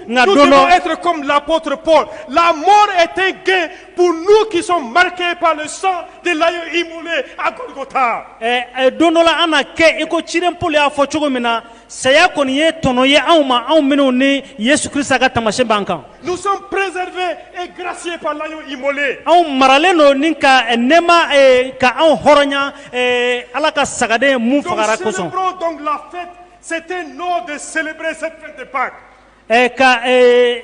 nka don e lapoorop la mɔn e tɛ gɛn p n'u kisɔn marikɛ' sa de layi i mun a taa don dɔ an na kɛ i ko cioli y'a fɔ cogo min na Saya kɔni ye tɔnɔ ye anw ma anw minnu ni Yesu Krista ka taamasiyɛn b'an kan. Nous sommes préservés et graciés par l'agneau immolé. Anw maralen don ni ka nɛɛma ee ka anw hɔrɔnya ee Ala ka sagaden mun fagara kosɔn. Nous célébrons donc la fête, c'est un ordre de célébrer cette fête de Pâques. Ɛɛ ka ee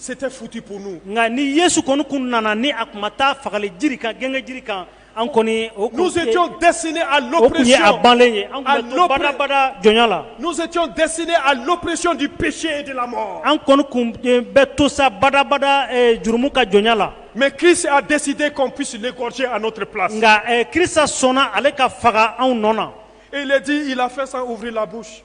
C'était foutu pour nous nka ni Yesu kɔni tun nana ni a tun ma taa fagali jiri kan gengenjiri kan an kɔni o tun tɛ nous étions destinés à l'oppression o tun ye a banlen ye an tun bɛ to badabada jɔnya la nous étions destinés à l'oppression du péché et de la mort an kɔni tun bɛ to sa badabada eh, jurumu ka jɔnya la mais Christ a décidé qu'on puisse l'égorger à notre place nka eh, Kirisa sɔnna ale ka faga anw nɔ na et il est dit il a fait sans ouvrir la bouche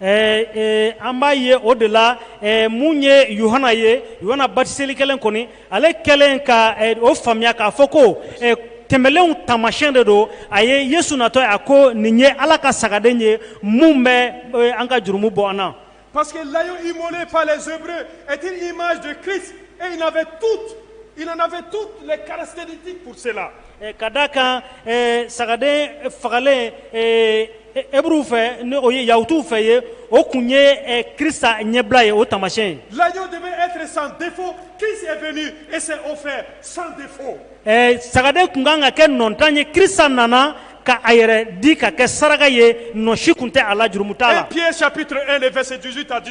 Ɛɛ an b'a ye o de la mun yeana yeana batiseli kelen kɔni ale kɛlen ka o faamuya k'a fɔ ko tɛmɛlenw tamasiɲɛ de don a ye ye suntɔ a ko nin ye ala ka sagaden ye minnu bɛ an ka jurumu bɔ an na pa que layi mɔnɛ fa la zep e tɛ ni ma ki e tu i tu karatatisi kuruurse la Ka da kan sagaden fagalen euru fɛ n o ye yahutu fɛ ye o tun ye ki ɲɛbila ye o tamasi laj de bɛ e san bi fo ki e o fɛ san fo sagaden tun kan ka kɛ nɔtan ye ki nana ka a yɛrɛ di ka kɛ saraka ye nɔsi tun tɛ a la jurumu' la pye sapte e de fɛsi dususi ta di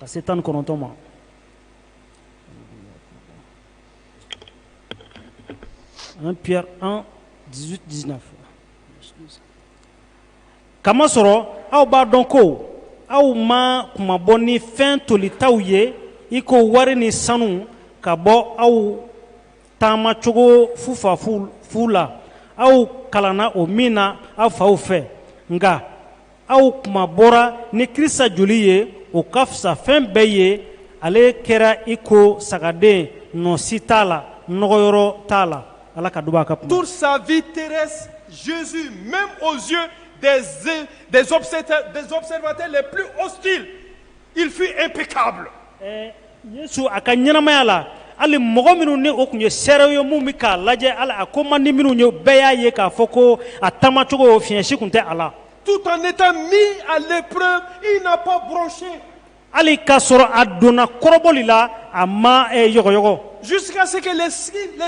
ka se tan ni kɔnɔntɔn ma un Pierre un dix-huit dix-neuf k'a masɔrɔ aw b'a dɔn ko aw ma kunmabɔ ni fɛn tolitaw ye i ko wari ni sanu ka bɔ aw taamacogo fufafu la aw kalanna o min na aw faw fɛ nka aw kunmabɔra ni kirisa joli ye o ka fisa fɛn bɛɛ ye ale kɛra i ko sagaden nɔsi t'a la nɔgɔyɔrɔ t'a la ala ka duba a ka kuma toute sa vie terrestre Jésus même aux yeux des des observateurs les plus hostiles Il fut impeccable Ɛɛ Yesu a ka ɲɛnamaya la, hali mɔgɔ minnu ni o tun ye seerew ye minnu bɛ k'a lajɛ, hali a ko man di minnu ye, bɛɛ y'a ye k'a fɔ ko a taamacogo fiɲɛ si tun tɛ a la. Tout en étant mis à l'épreuve, il n'a pas bronché. Hali k'a sɔrɔ a donna kɔrɔbɔli la, a ma yɔgɔyɔgɔ. Jusqu'à ce que les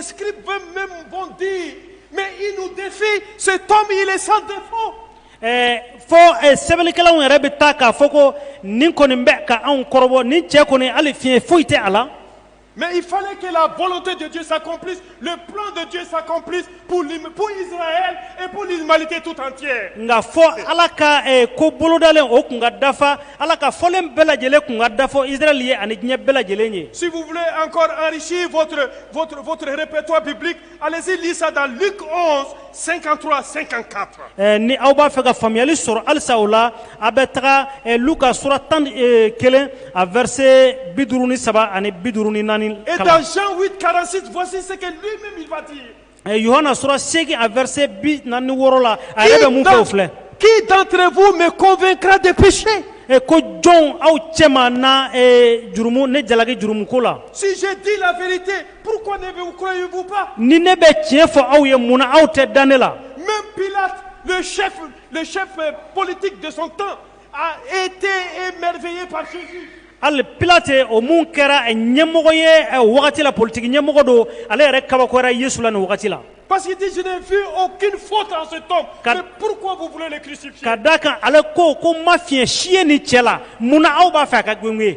scribes même vont dire, mais il nous defie, cet homme il est sans défaut. fo sɛbɛnnikɛlaw yɛrɛ bɛ taa k'a fɔ ko nin kɔni bɛ ka anw kɔrɔbɔ ni cɛ kɔni hali fiɲɛ foyi tɛ a la mɛ i fa ke la balo tɛ de sa p de sa p mali tɛ tu tan cɛ nka fɔ ala ka ko bolodalen o tun ka dafa ala ka fɔlen bɛɛ lajɛlen tun ka dafa ili ye ani diɲɛ bɛɛ lajɛlen ye segufi anreptɔ bɛ Allez-y, lire ça dans Luc 11, 53 à 54. Eh, ni aw b'a fɛ ka faamuyali sɔrɔ halisa o la a bɛ taga eh, luka sura tan ni, eh, kelen a verset bi duuru ni saba ani bi duuru ni naani kalan. Et dans Jean 8, 46, voici ce que lui-même il va dire. Eh, yohana sura seegin a verset bi naani ni wɔɔrɔ la a yɛrɛ bɛ mun fɔ o filɛ qui d'entre vous me convaincra de péché Eh, ko jɔn aw cɛma na eh, jurumu ne jalaki jurumuko la Si je dis la vérité, Pourquoi ne vous croyez-vous pas Ni ne bɛ tiɲɛ fɔ aw ye mun na aw tɛ da ne la Même Pilate, le chef, le chef euh, politique de son temps, a été émerveillé par Jésus. hali pilate o mun kɛra eh, ɲɛmɔgɔ ye eh, o wagati la politiki ɲɛmɔgɔ don ale yɛrɛ kabakoyara yesu la nin wagati la Parce qu'il dit, je n'ai vu aucune faute en cet homme. Car- Mais pourquoi vous voulez le crucifier ka da kan ale ko ko ma fiɲɛ si ye nin cɛ la mun na aw b'a fɛ a ka gengen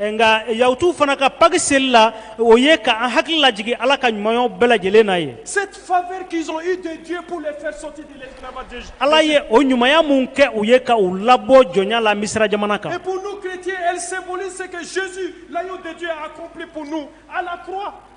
nka yahutu fana ka paki seli la o ye ka an hakili lajigin ala ka ɲumanyaw bɛɛ lajɛlen na ye Cette faveur qu'ils ont eue de Dieu pour les faire sortir de l'esclavage d'Égypte. ala ye o ɲumanya mun kɛ u ye ka u labɔ jɔnya la misira jamana kan Et pour nous chrétiens, elle symbolise ce que Jésus, l'agneau de Dieu, a accompli pour nous à la croix.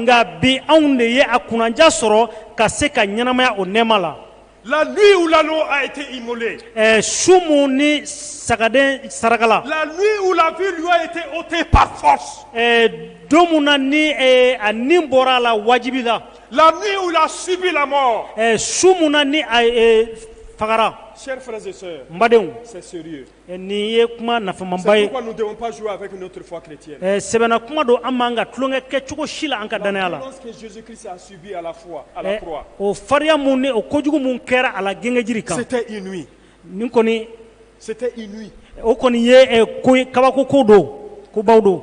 nka bi anw de ye a kunnaja sɔrɔ ka se ka ɲɛnamaya o nɛma la la su minnu ni sagaden saraka la la don min na ni a ni bɔra a la wajibi la la la su min fagara badenw Nin ye kuma nafamaba ye sɛbɛla kuma don an man ka tulonkɛ kɛ cogo si la an ka dannaya la o fariya mun ni o kojugu mun kɛra a la gengenjiri kan nin kɔni o kɔni ye ko kabako ko don ko baw don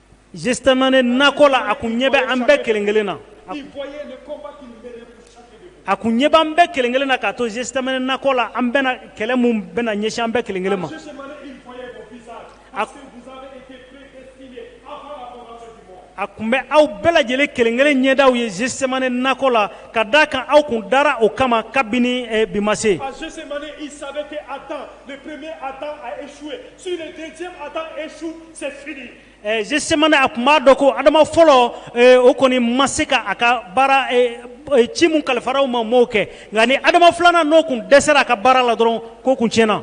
Gethsémané nakɔ la a kun ɲɛ bɛ an bɛɛ kelen kelen na a kun ɲɛ bɛ an bɛɛ kelen kelen na ka to Gethsémané nakɔ la an bɛna kɛlɛ mun bɛna ɲɛsin an bɛɛ kelen kelen ma a tun bɛ aw bɛɛ lajɛlen kelen kelen ɲɛda ye Gethsémané nakɔ la ka da a kan aw kun dara o kama kabini bi ma se gesemane a kun b'a dɔn ko adama fɔlɔ o kɔni ma se ka a ka baara ci min kalifara o ma ma o kɛ nka ni adama filanan n'o kun dɛsɛra a ka baara la dɔrɔn ko kun tiɲɛna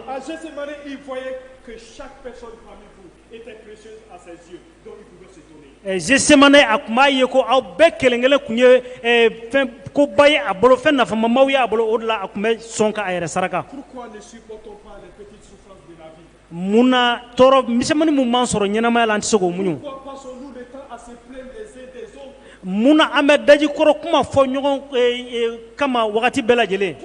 gesemane a kun b'a ye ko aw bɛɛ kelenkelen kun ye fɛn koba ye a bolo fɛn nafamaba y'a bolo o de la a kun bɛ sɔn ka a yɛrɛ saraka Mun na tɔɔrɔ misɛnmani min b'an sɔrɔ ɲɛnamaya la an tɛ se k'o muɲu? Mun na an bɛ daji kɔrɔ kuma fɔ ɲɔgɔn kama wagati bɛɛ lajɛlen?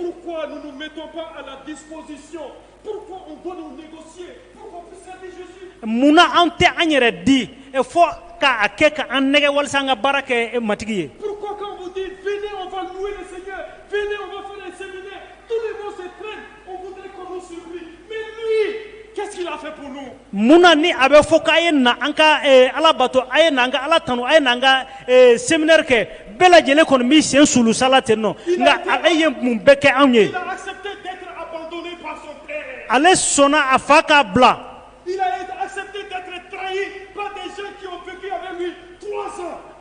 Mun na an tɛ an yɛrɛ di fo k'a kɛ ka an nɛgɛn walasa an ka baara kɛ Matigi ye? Munna ni a bɛ fɔ k'a ye na an ka eh, ala bato a ye na an ka ala tanu a ye na an ka eh, seminɛri kɛ bɛɛ lajɛlen kɔni b'i sen sulusala ten nɔ nka ale ye mun bɛɛ kɛ anw ye ale sɔnna a fa k'a bila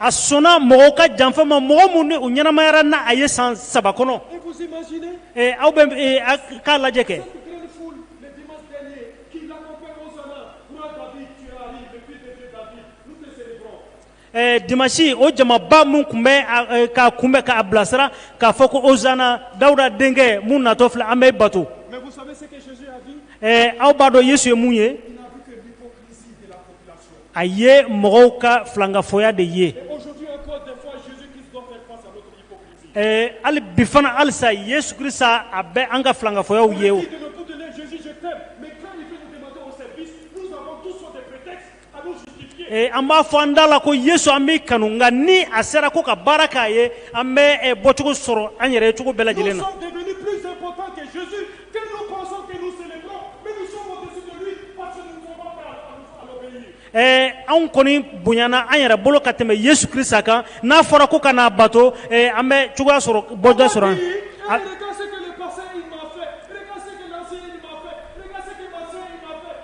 A sɔnna mɔgɔw ka janfa ma mɔgɔ minnu u ɲɛnamayara n'a ye san saba kɔnɔ aw bɛ k'a lajɛ kɛ Eh, dimansi o jamaba min kun bɛ eh, k'a kunbɛn k'a bilasira k'a fɔ ko ozana dawuda denkɛ mun natɔ filɛ an b'e bato eh, aw b'a dɔn yesu ye mun ye a ye mɔgɔw ka filankafoya de ye hali bi fana halisa yesu krista a bɛ an ka filankafoyaw ye Eh, an b'a fɔ an da la ko yesu an b'i kanu nka ni a sera ko ka baara k'a ye an bɛ eh, bɔcogo sɔrɔ an yɛrɛ ye cogo bɛɛ lajɛlen na eh, anw kɔni bonyana an yɛrɛ bolo ka tɛmɛ yesu krista kan n'a fɔra ko ka n'a bato an bɛ cogoya sɔrɔ bɔda sɔrɔ an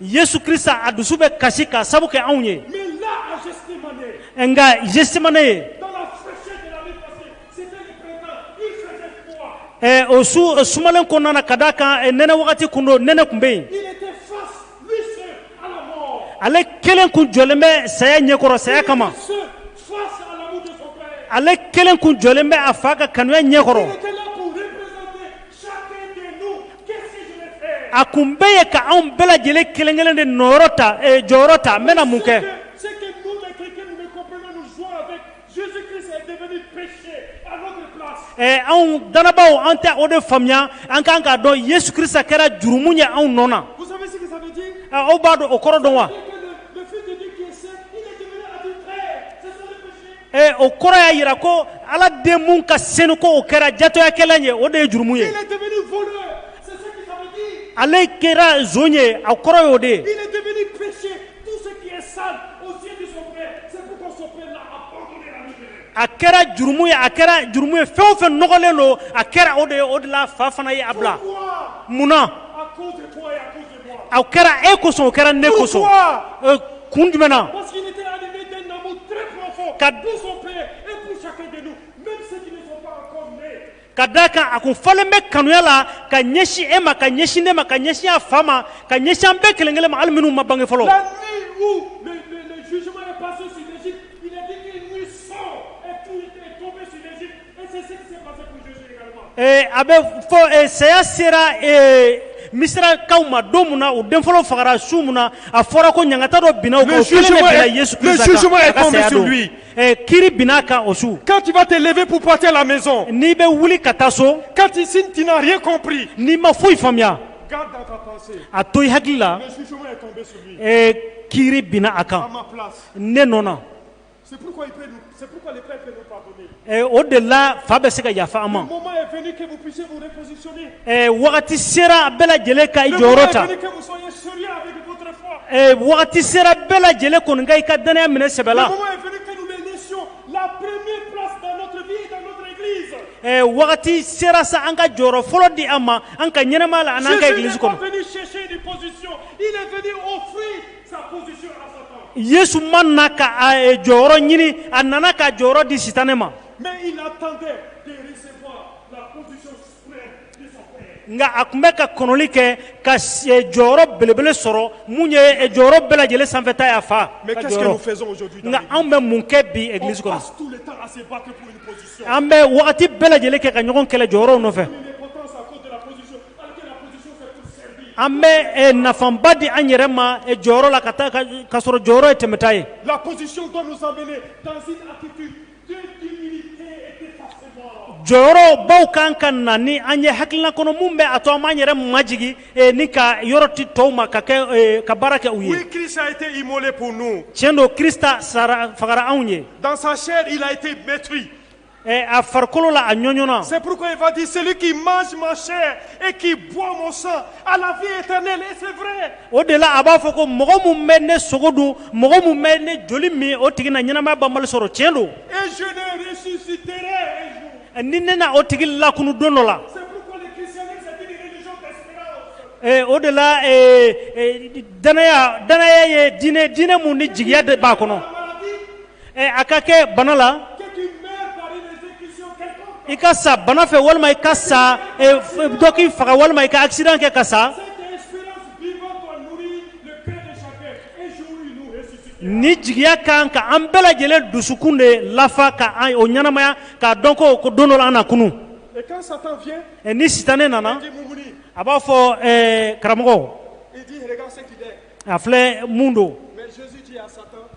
yesu krista a dusu bɛ kasi k'a sabu kɛ anw ye nka gestemane ye eh, o su eh, sumalen kɔnɔna na ka d'a kan eh, nɛnɛ wagati kun don nɛnɛ tun bɛ yen ale kelen kun jɔlen bɛ saya ɲɛkɔrɔ saya kama ale kelen kun jɔlen bɛ a fa ka kanuya ɲɛkɔrɔ a kun bɛɛ ye ka anw bɛɛ lajɛlen kelenkelen de nɔyɔrɔ ta eh, jɔyɔrɔ ta n bɛna mun kɛ eh, anw dannabaw an tɛ o de faamuya an kan k'a dɔn yesu krista kɛra jurumu ye anw nɔ na eh, aw b'a dɔn o kɔrɔ dɔn wa Ee o kɔrɔ y'a yira ko ala den min ka senu ko o kɛra jatɔyakɛla ye o de ye jurumu ye ale kɛra zon ye a kɔrɔ ye o de ye a kɛra jurumu ye a kɛra jurumu ye fɛn o fɛn nɔgɔlen don a kɛra o de ye o de la fa fana ye a bila munna a kɛra e kosɔn o kɛra ne kosɔn kun jumɛn na ka da kan a kun falen bɛ kanuya la ka ɲɛsin e ma ka ɲɛsin ne ma ka ɲɛsin a fa ma ka ɲɛsin an bɛɛ kelen kelen ma hali minnu ma bange fɔlɔ A bɛ fɔ saya sera misirakaw ma don min na u den fɔlɔ fagara su min na a fɔra ko ɲangata dɔ binna kiri binna a kan o su quand tu vas te lever pour partir à la maison n'i bɛ wuli ka taa so quand ici tu n'as rien compris n'i ma foyi faamuya a to i hakili la kiri binna a kan ne nɔ Eh, o de la fa bɛ se ka yafa an ma eh, wagati sera bɛɛ lajɛlen ka i jɔyɔrɔ ta eh, wagati sera bɛɛ lajɛlen kɔni ka i ka danaya minɛ sɛbɛ la wagati sera sa an ka jɔyɔrɔ fɔlɔ di a ma an ka ɲɛnamaya la ani an ka egilisi kɔnɔ Yesu ma na ka jɔyɔrɔ ɲini a nana k'a jɔyɔrɔ di sitanɛ ma nka a kun bɛ ka kɔnɔnli kɛ ka jɔyɔrɔ belebele sɔrɔ min ye jɔyɔrɔ bɛɛ lajɛlen sanfɛ ta ye a fa nka an bɛ mun kɛ bi egilisi kɔnɔ an bɛ wagati bɛɛ lajɛlen kɛ ka ɲɔgɔn kɛlɛ jɔyɔrɔ nɔfɛ an bɛ eh, nafaba di an yɛrɛ ma eh, jɔyɔrɔ la ka taa k'a sɔrɔ jɔyɔrɔ ye tɛmɛta ye jɔyɔrɔbaw kan ka na ni an ye hakilina kɔnɔ min bɛ a to an b'an yɛrɛ majigin eh, ni ka yɔrɔ di tɔw ma ka kɛ ka baara kɛ u ye tiɲɛ don krista sara fagara anw ye Eh, a farikolo la a ɲɔɲɔna c'est pourquoi il va dire celui qui mange ma chair et qui boit mon sang a la vie éternelle et c'est vrai o de la a b'a fɔ ko mɔgɔ min bɛ ne sogo dun mɔgɔ min bɛ ne joli min o tigi na ɲɛnamaya banbali sɔrɔ tiɲɛ don et je le ressusciterai un jour eh, ni ne na o tigi lakunu don dɔ la c'est pourquoi le christianisme c'est une religion d'espérance eh, o de la danaya danaya ye diinɛ diinɛ mun ni jigiya de b'a kɔnɔ Ɛ a ka kɛ bana la i ka sa bana fɛ walima i ka sa dɔ k'i faga walima i ka accident kɛ ka sa nin jigiya ka kan ka an bɛɛ lajɛlen dusukun de lafa ka o ɲɛnamaya k'a dɔn ko ko don dɔ la an na kunun ɛ ni sitanɛ nana a b'a fɔ karamɔgɔ a filɛ mun don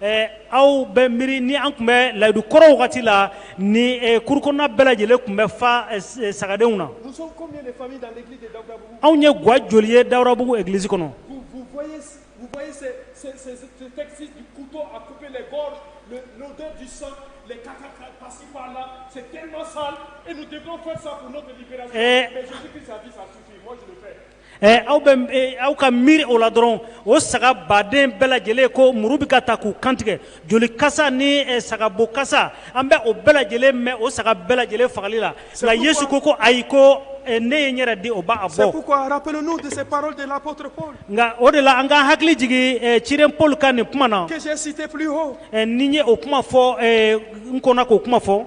Ɛɛ aw bɛ miiri ni an tun bɛ layidu kɔrɔ wagati la nin cour kɔnɔna bɛɛ lajɛlen tun bɛ fa sagadenw na anw ye ga joli ye dawudabugu egilisi kɔnɔ Ɛ aw bɛ aw ka miiri o la dɔrɔn o saga baden bɛɛ lajɛlen ko muru bɛ ka ta k'u kantigɛ joli kasa ni sagabo kasa an bɛ o bɛɛ lajɛlen mɛn o saga bɛɛ lajɛlen fagali la nka yesu ko ko ayi ko ne ye n yɛrɛ di o b'a bɔ nka o de la an k'an hakili jigin ciden paul ka nin kuma na ni n ye o kuma fɔ n kɔnna k'o kuma fɔ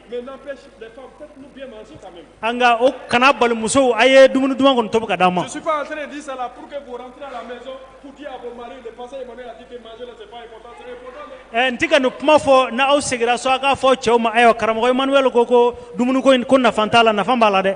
Nka o kana bali musow a ye dumuni duman kɔni tobi ka d'an ma n tɛ ka nin kuma fɔ n'aw segira so aw k'a fɔ cɛw ma ayiwa karamɔgɔ emmanuel ko ko dumuni ko in ko nafa t'a la nafa b'a la dɛ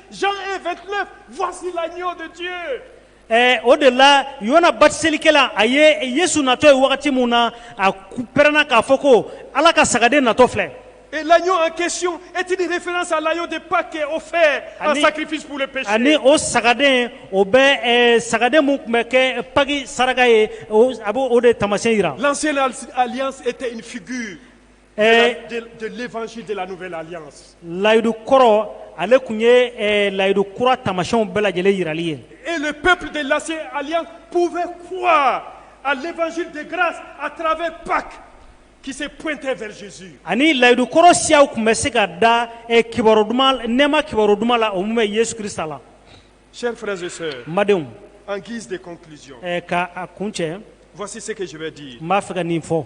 Jean 1, 29, voici l'agneau de Dieu. Eh, o de la yona batiselikɛla a ye yesu natɔ ye wagati min na a pɛrɛnna k'a fɔ ko ala ka sagaden natɔ filɛ Et l'agneau en question est une référence à l'agneau de Pâques qui est offert en sacrifice pour le péché. ani o sagaden o bɛ eh, sagaden min tun bɛ kɛ paki saraka ye a bɛ o de taamasiyɛn yira L'ancienne al- alliance était une figure layidu kɔrɔ ale tun ye layidu kura tamasiw bɛɛ lajɛlen jirali ye e pep de lase ali pfe a tarawele pa ki foyitesi ani layidu kɔrɔ siya tun bɛ se ka da kiba duman nɛma kiba dumanuma la o bɛ yesisa la sɛ fɛsi madenw an k'i de k' a kun cɛsi se di n b'a fɛ ka nin fɔ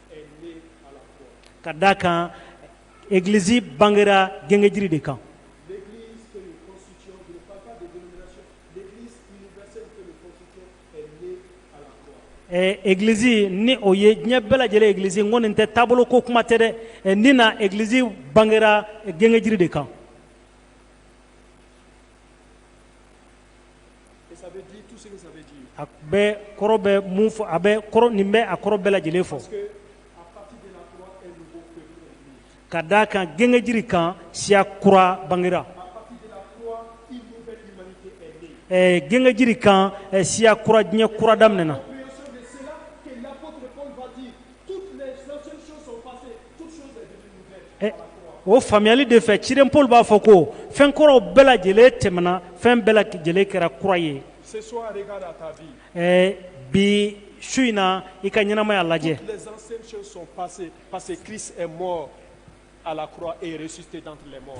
Ka d'a kan egilisi bangera gengenjiri de kan egilisi ni o ye diɲɛ bɛɛ lajɛlen egilisi n ko nin tɛ taabolo ko kuma tɛ dɛ ni na egilisi bangera gengenjiri de kan A bɛ kɔrɔ bɛ mun fɔ a bɛ kɔrɔ nin bɛ a kɔrɔ bɛɛ lajɛlen fɔ ka d'a kan gengenjiri kan siya kura bangera ɛɛ gengenjiri kan siya kura diɲɛ kura daminɛna Eh, o faamuyali de fɛ ciden Paul b'a fɔ ko fɛn kɔrɔw bɛɛ lajɛlen tɛmɛna fɛn bɛɛ lajɛlen kɛra kura ye eh, bi su in na i ka ɲɛnamaya lajɛ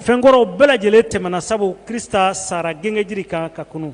fɛn kɔrɔw bɛɛ lajɛlen tɛmɛna sabu Krista sara gengenjiri kan ka kunun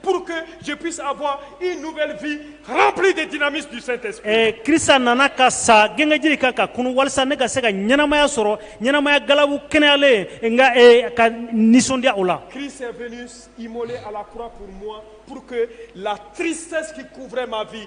pour que je puisse avoir une nouvelle vie remplie des dynamismes du Saint-Esprit. Eh, Krista nana ka sa gengenjiri kan ka kunu walisa ne ka se ka ɲɛnamaya sɔrɔ ɲɛnamaya galabu kɛnɛyalen eh, n ka eh, ka nisɔndiya o la. Christ est venu immoler à la croix pour moi pour que la tristesse qui couvrait ma vie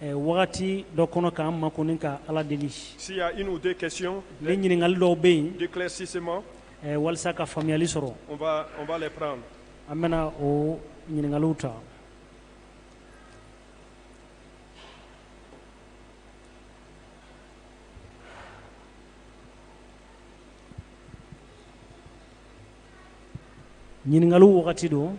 Wagati dɔ kɔnɔ k'an makun ka ala deli s'il y a une ou deux questions ni ɲininkali dɔw bɛ yen d'éclaircissement walasa ka faamuyali sɔrɔ an bɛna o ɲininkali ta ɲininkali wagati don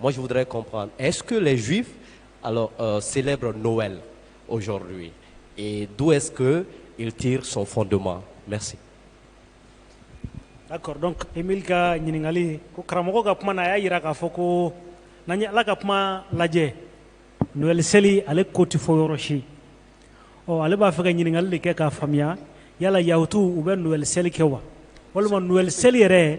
Moi, je voudrais comprendre, est-ce que les Juifs alors, euh, célèbrent Noël aujourd'hui Et d'où est-ce qu'il tire son fondement Merci. D'accord, donc Emile ka ɲininkali ko karamɔgɔ ka kuma na a y'a yira k'a fɔ ko n'an ye ala ka kuma lajɛ Noël seli ale ko tɛ fɔ yɔrɔ si ɔ ale b'a fɛ ka ɲininkali de kɛ k'a faamuya yala yahutuw u bɛ Noël seli kɛ wa walima Noël seli yɛrɛ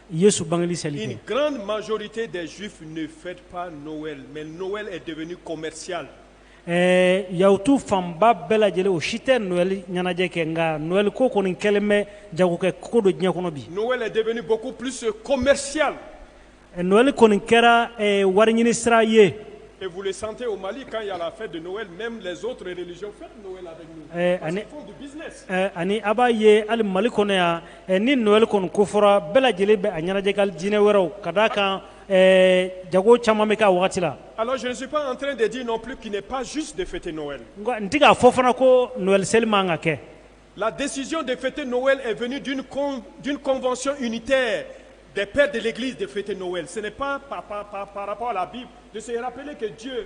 Yesu bangeli seli kɛ. Une grande majorité des juifs ne fête pas Noël mais Noël est devenu commercial. Ɛɛ yahutu fanba bɛɛ lajɛlen o si tɛ Noël ɲɛnajɛ kɛ nka Noël ko kɔni kɛlen bɛ jagokɛ ko don diɲɛ kɔnɔ bi. Noël est devenu beaucoup plus commercial. Noël kɔni kɛra ɛɛ wariɲini sira ye. Et vous le sentez au Mali quand il y a la fête de Noël même les autres religions fêtent Noël avec nous. Ɛɛ ani parce qu'ils font du business. Ɛɛ ani a b'a ye hali Mali kɔnɔ yan Ni nɔgɔyali kɔni ko fɔra bɛɛ lajɛlen bɛ a ɲɛnajɛ ka dinɛ wɛrɛw ka d' a kan jago caman bɛ ka waati la alazsi an deti nɔ pkp pazsi de fɛte nɔgɔya nka n tɛ'a fɔ fana ko nɔgɔyali seli ma ka kɛ la desisiy de fɛte nɔn2 tɛ depre deli de fɛte nɔn sen pan pap la a bi de kɛ diɲɛ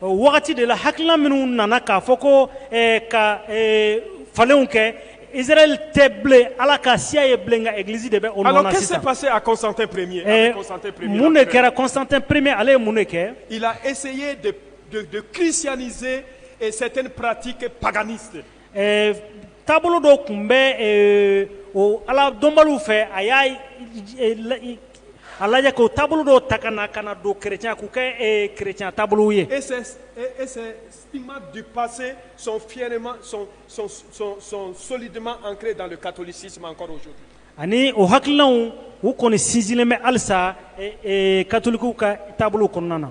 wagati de la hakilina minnu nana k'a fɔ ko ka falenw kɛ Israɛl tɛ bilen ala ka siya ye bilen nka egilisi de bɛ o nɔ na sisan alors qu'est-ce qui s'est passé à Constantin premier mun de kɛra Constantin premier ale ye mun de kɛ il a essayé de christianiser certaines pratiques paganistes taabolo dɔ tun bɛ o ala dɔnbaliw fɛ a y'a A lajɛ ko taabolo dɔw ta ka na ka na don kɛlɛcya k'u kɛ kɛlɛcya taabolo ye e i ma bi pase son fima son soli dumanma an kelenle dalen ka toli sisi kɔrɔ su ani o hakiliki u kɔni sinsinlen bɛ halisa katoliliku ka taabolo kɔnɔna na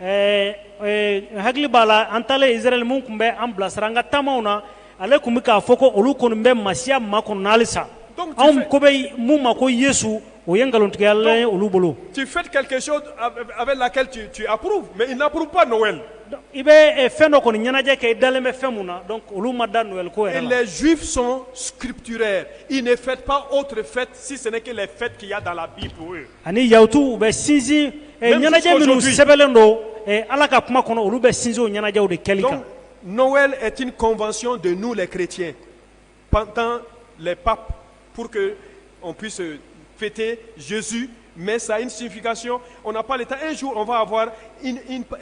ɛɛ hakili b'a la an taalen Israɛl min tun bɛ an bilasira an ka taamaw na, ale tun bɛ k'a fɔ ko olu kɔni bɛ Masiya makɔnɔ halisa, donc, anw ko bɛ min ma ko Yesu o ye nkalontigɛla ye olu bolo, donc, tu fais quelque chose avec laquelle tu approuves mais ils n'approuvent pas Noël, donc i bɛ fɛn dɔ kɔni ɲɛnajɛ kɛ i dalen bɛ fɛn min na donc olu ma da Noël ko yɛrɛ la, et les juifs sont scripturaires, ils ne font pas autre fête si ce n'est que les fêtes qu'il y a dans la bible pour eux ani yawutu u bɛ sinsin ɲɛnajɛ minnu sɛbɛnbɛlen don ala ka kuma kɔnɔ olu bɛ sinsin o ɲɛnajɛw de kɛli kan n'ofa de n'u la kiiriti pantan pap pur que fite zz mɛ sa sinfinkasiy o k'ale taa ez o fɔ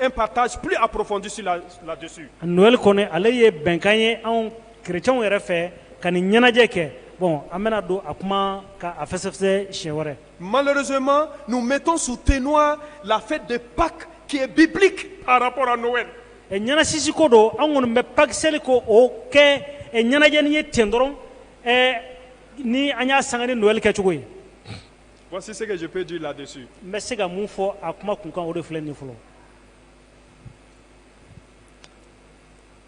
a patapp a porofdisi la ladi n'o kɔni ale ye bɛnkan ye anw Kerecɛnw yɛrɛ fɛ ka nin ɲɛnajɛ kɛ bon an bɛna don a kuma ka a fɛsɛfɛsɛ siɲɛ wɛrɛ malheureusement nous mettons sous éteignoir la fête de Pâques qui est biblique par rapport à Noël ɛ ɲɛnasisi ko don an kɔni bɛ Pâques seli ko o kɛ ɛ ɲɛnajɛni ye ten dɔrɔn ɛ ni an y'a sanga ni Noël kɛcogo ye voici ce que je peux dire là-dessus n bɛ se ka mun fɔ a kuma kunkan o de filɛ nin ye fɔlɔ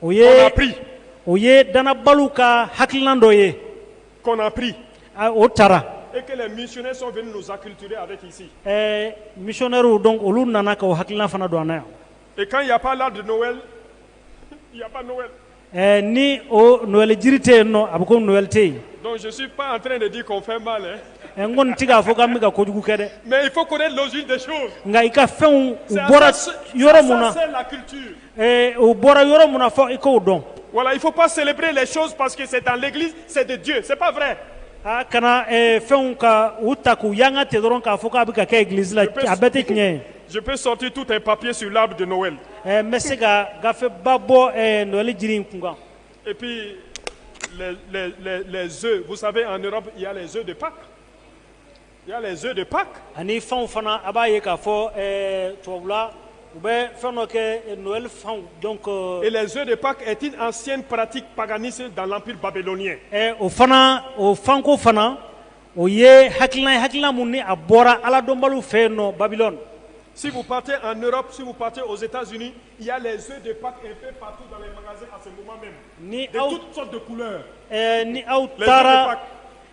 o ye o ye danbaw ka hakilikilan dɔ ye kɔnɔnapri o taara e misɛw dɔn olu nana ka hakilila fana don yan e ka ya la ni oɔnli jiri tɛ yen a bɛ ko nɔnli tɛ yen n ko n tɛ k'a fɔ ka bɛ ka ko kojugu kɛ dɛ mɛ i ko nka i ka fɛnw bɔra yɔrɔ min na Ee u bɔra yɔrɔ min na fɔ i k'o dɔn Voilà, il ne faut pas célébrer les choses parce que c'est dans l'église, c'est de Dieu. C'est pas vrai. a kana ee, fɛnw ka u ta k'u yanga ten dɔrɔn k'a fɔ k'a bɛ ka kɛ egilizi la a bɛɛ tɛ tiɲɛ ye Je peux sortir tout un papier sur l'arbre de Noël. Ee, n bɛ se ka gafeba bɔ ee, Noël jiri in kun kan Et puis, les, les, les, les œufs. Vous savez, en Europe, il y a les œufs de Pâques. Il y a les œufs de Pâques ani fanw fana a b'a ye k'a fɔ ɛɛ tubabula u bɛ fɛn dɔ kɛ Noël fanw donc et les œufs de Pâques est une ancienne pratique paganiste dans l'empire babylonien ɛ o fana o fanko fana o ye hakilina ye hakilina min ni a bɔra Aladɔnbaliw fɛ yen nɔ Babylone si vous partez en Europe si vous partez aux Etats-Unis Il y a les œufs de Pâques un peu partout dans les magasins à ce moment même. Ni aw, de toutes sortes de couleurs. Eh, ni aw taara Les œufs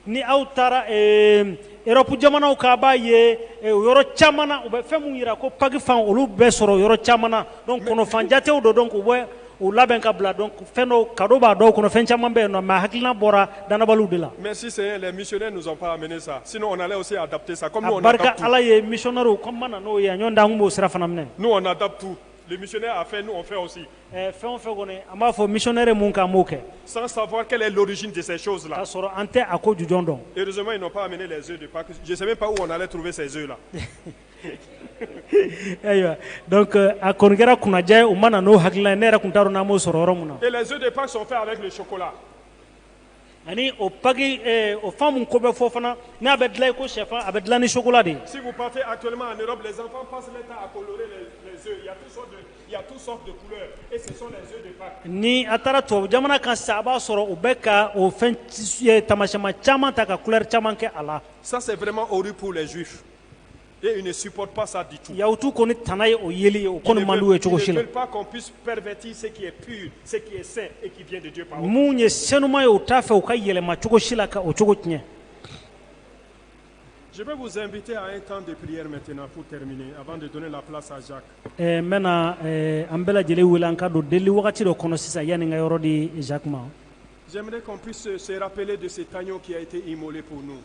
de ni aw taara eh, Europe jamanaw kan a b'a ye eh, o yɔrɔ caman na u bɛ fɛn mun yira ko paki fan olu bɛ sɔrɔ yɔrɔ caman na donc kɔnɔfan jatew don donc u bɛ u labɛn ka bila donc fɛn dɔw kado b'a dɔw kɔnɔ fɛn caman bɛ yen nɔ mais a hakilina bɔra danabaliw de la. Merci Seigneur, les missionnaires nous ont pas amené ça. Sinon on allait aussi adapter ça comme nous on adapte. A barika Ala ye missionnaires kɔni ma na n'o ye nɔntɛ an b'o sira fana minɛ. Nous on adapte tout. Le missionnaire a fait, nous on fait aussi. Eh, fɛn o fɛn kɔni an b'a fɔ missionnaire mun k'an b'o kɛ. Sans savoir quelle est l'origine de ces choses là. K'a sɔrɔ an tɛ a ko jujɔn dɔn. Heureusement ils n'ont pas amené les œufs de Pâques. Je sais même pas où on allait trouver ces œufs là. ayiwa donc euh, a kɔni kɛra kunnaja ye u ma na n'o hakilina ye ne yɛrɛ tun t'a dɔn n'an b'o sɔrɔ yɔrɔ mun na. Et les œufs de Pâques sont faits avec le chocolat. ani o paki eh, o fan mun ko bɛ fɔ fana n'a bɛ dilan i ko sɛfan a bɛ dilan ni sokola de ye. si vous partez actuellement en Europe les enfants passent leur temps à colorer les, les œufs il y a toutes sortes de il y a toutes sortes de couleurs et ce sont les œufs de Pâques. ni a taara tubabu jamana kan sisan a b'a sɔrɔ u bɛ ka o fɛn eh, tamasiyɛnma caman ta ka couleur caman kɛ a la. ça c'est vraiment horrible pour les juifs. Et ils ne supportent pas ça du tout. Yahutu kɔni tana ye o yeli ye o kɔni man d'u ye cogo si la. Ils ne veulent pas qu'on puisse pervertir ce qui est pur, ce qui est saint et qui vient de Dieu par eux. Mun ye senuma ye u t'a fɛ u k'a yɛlɛma cogo si la ka o cogo tiɲɛ. Je vais vous inviter à un temps de prière maintenant pour terminer, avant de donner la place à Jacques. Eh, n bɛna eh, an bɛɛ lajɛlen wele an ka don deli wagati dɔ kɔnɔ sisan yanni n ka yɔrɔ di Jacques ma. J'aimerais qu'on puisse se rappeler de cet agneau qui a été immolé pour nous.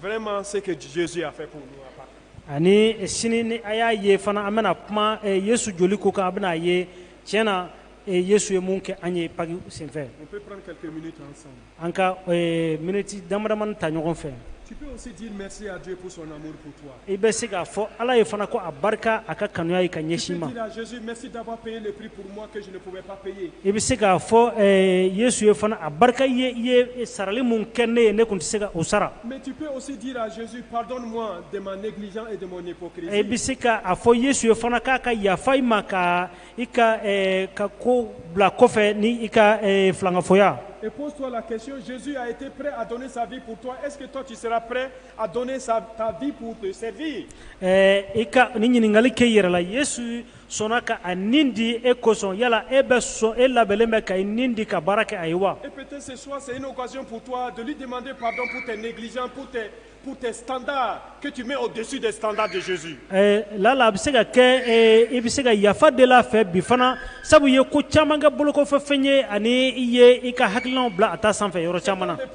Vraiment ce que Jésus a fait pour nous à Pâques. Ani sini ni a y'a ye fana an bɛna kuma eh, Yesu joli ko kan a bɛna a ye tiɲɛ na eh, Yesu ye mun kɛ an ye Paki senfɛ. On peut prendre quelques minutes ensemble. An ka eh, miniti damadamani ta ɲɔgɔn fɛ. Tu peux aussi dire merci à Dieu pour son amour pour toi. I bɛ se k'a fɔ ala ye fana ko a barika a ka kanuya ye ka ɲɛsin ma i bɛ se k'a fɔ yesu ye fana a barika ye i ye sarali minnu kɛ ne ye ne tun tɛ se ka o sara i bɛ se k' a fɔ yesu ye fana k'a ka yafa i ma ka i ka ka ko bila kɔfɛ ni i ka fangafɔya À donner ta vie pour te servir ɛɛ i ka nin ɲininkali kɛ i yɛrɛ la Yesu sɔnna ka a ni di e kosɔn yala e bɛ sɔn e labɛnnen bɛ ka i ni di ka baara kɛ a ye wa? Et peut être ce soir c'est une occasion pour toi de lui demander pardon pour tes négligences pour tes pour tes standards que tu mets au dessus des standards de Jésus Ɛɛ lala a bɛ se ka kɛ ee i bɛ se ka yafa deli a fɛ bi fana sabu i ye ko caman kɛ bolokɔfɛfɛn ye ani i ye i ka hakilinaw bila a ta sanfɛ yɔrɔ caman na.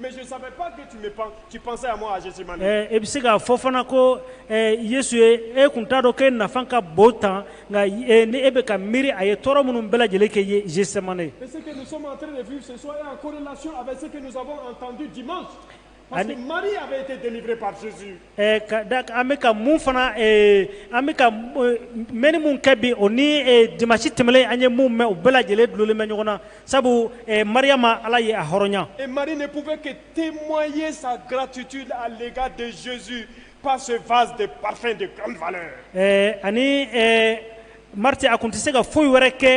Mais je ne savais pas que tu me penses, tu pensais à moi à Gethsemane. Eh, e bɛ se k'a fɔ fana ko eh, Yesu ye e kun t'a dɔn k'e nafa ka bon tan nka eh, ni e bɛ ka miiri a ye tɔɔrɔ minnu bɛɛ lajɛlen kɛ ye Gethsemane. Et ce que nous sommes en train de vivre ce soir est en corrélation avec ce que nous avons entendu dimanche. Parce que Marie avait été délivrée par Jésus. An bɛ mun fana an bɛ m minnu kɛ bi o ni jamasi tɛmɛnen an ye minnu mɛn u bɛɛ lajɛlen dulen bɛ ɲɔgɔn na sabu maria ma ala ye a hɔrɔnya te mɔn ye sa gatiti ale ka denzz pa faz de pafej ani Mariti a tun tɛ se ka foyi wɛrɛ kɛ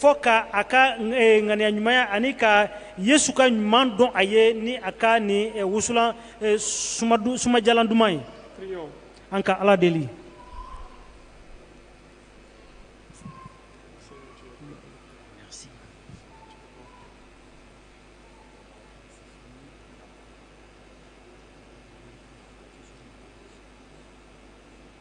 fo k' a ka ŋaniya ɲumanya ani ka Yesu ka ɲuman dɔn a ye ni a ka nin wusulan sumajalan duman ye. Prions. An ka ala deli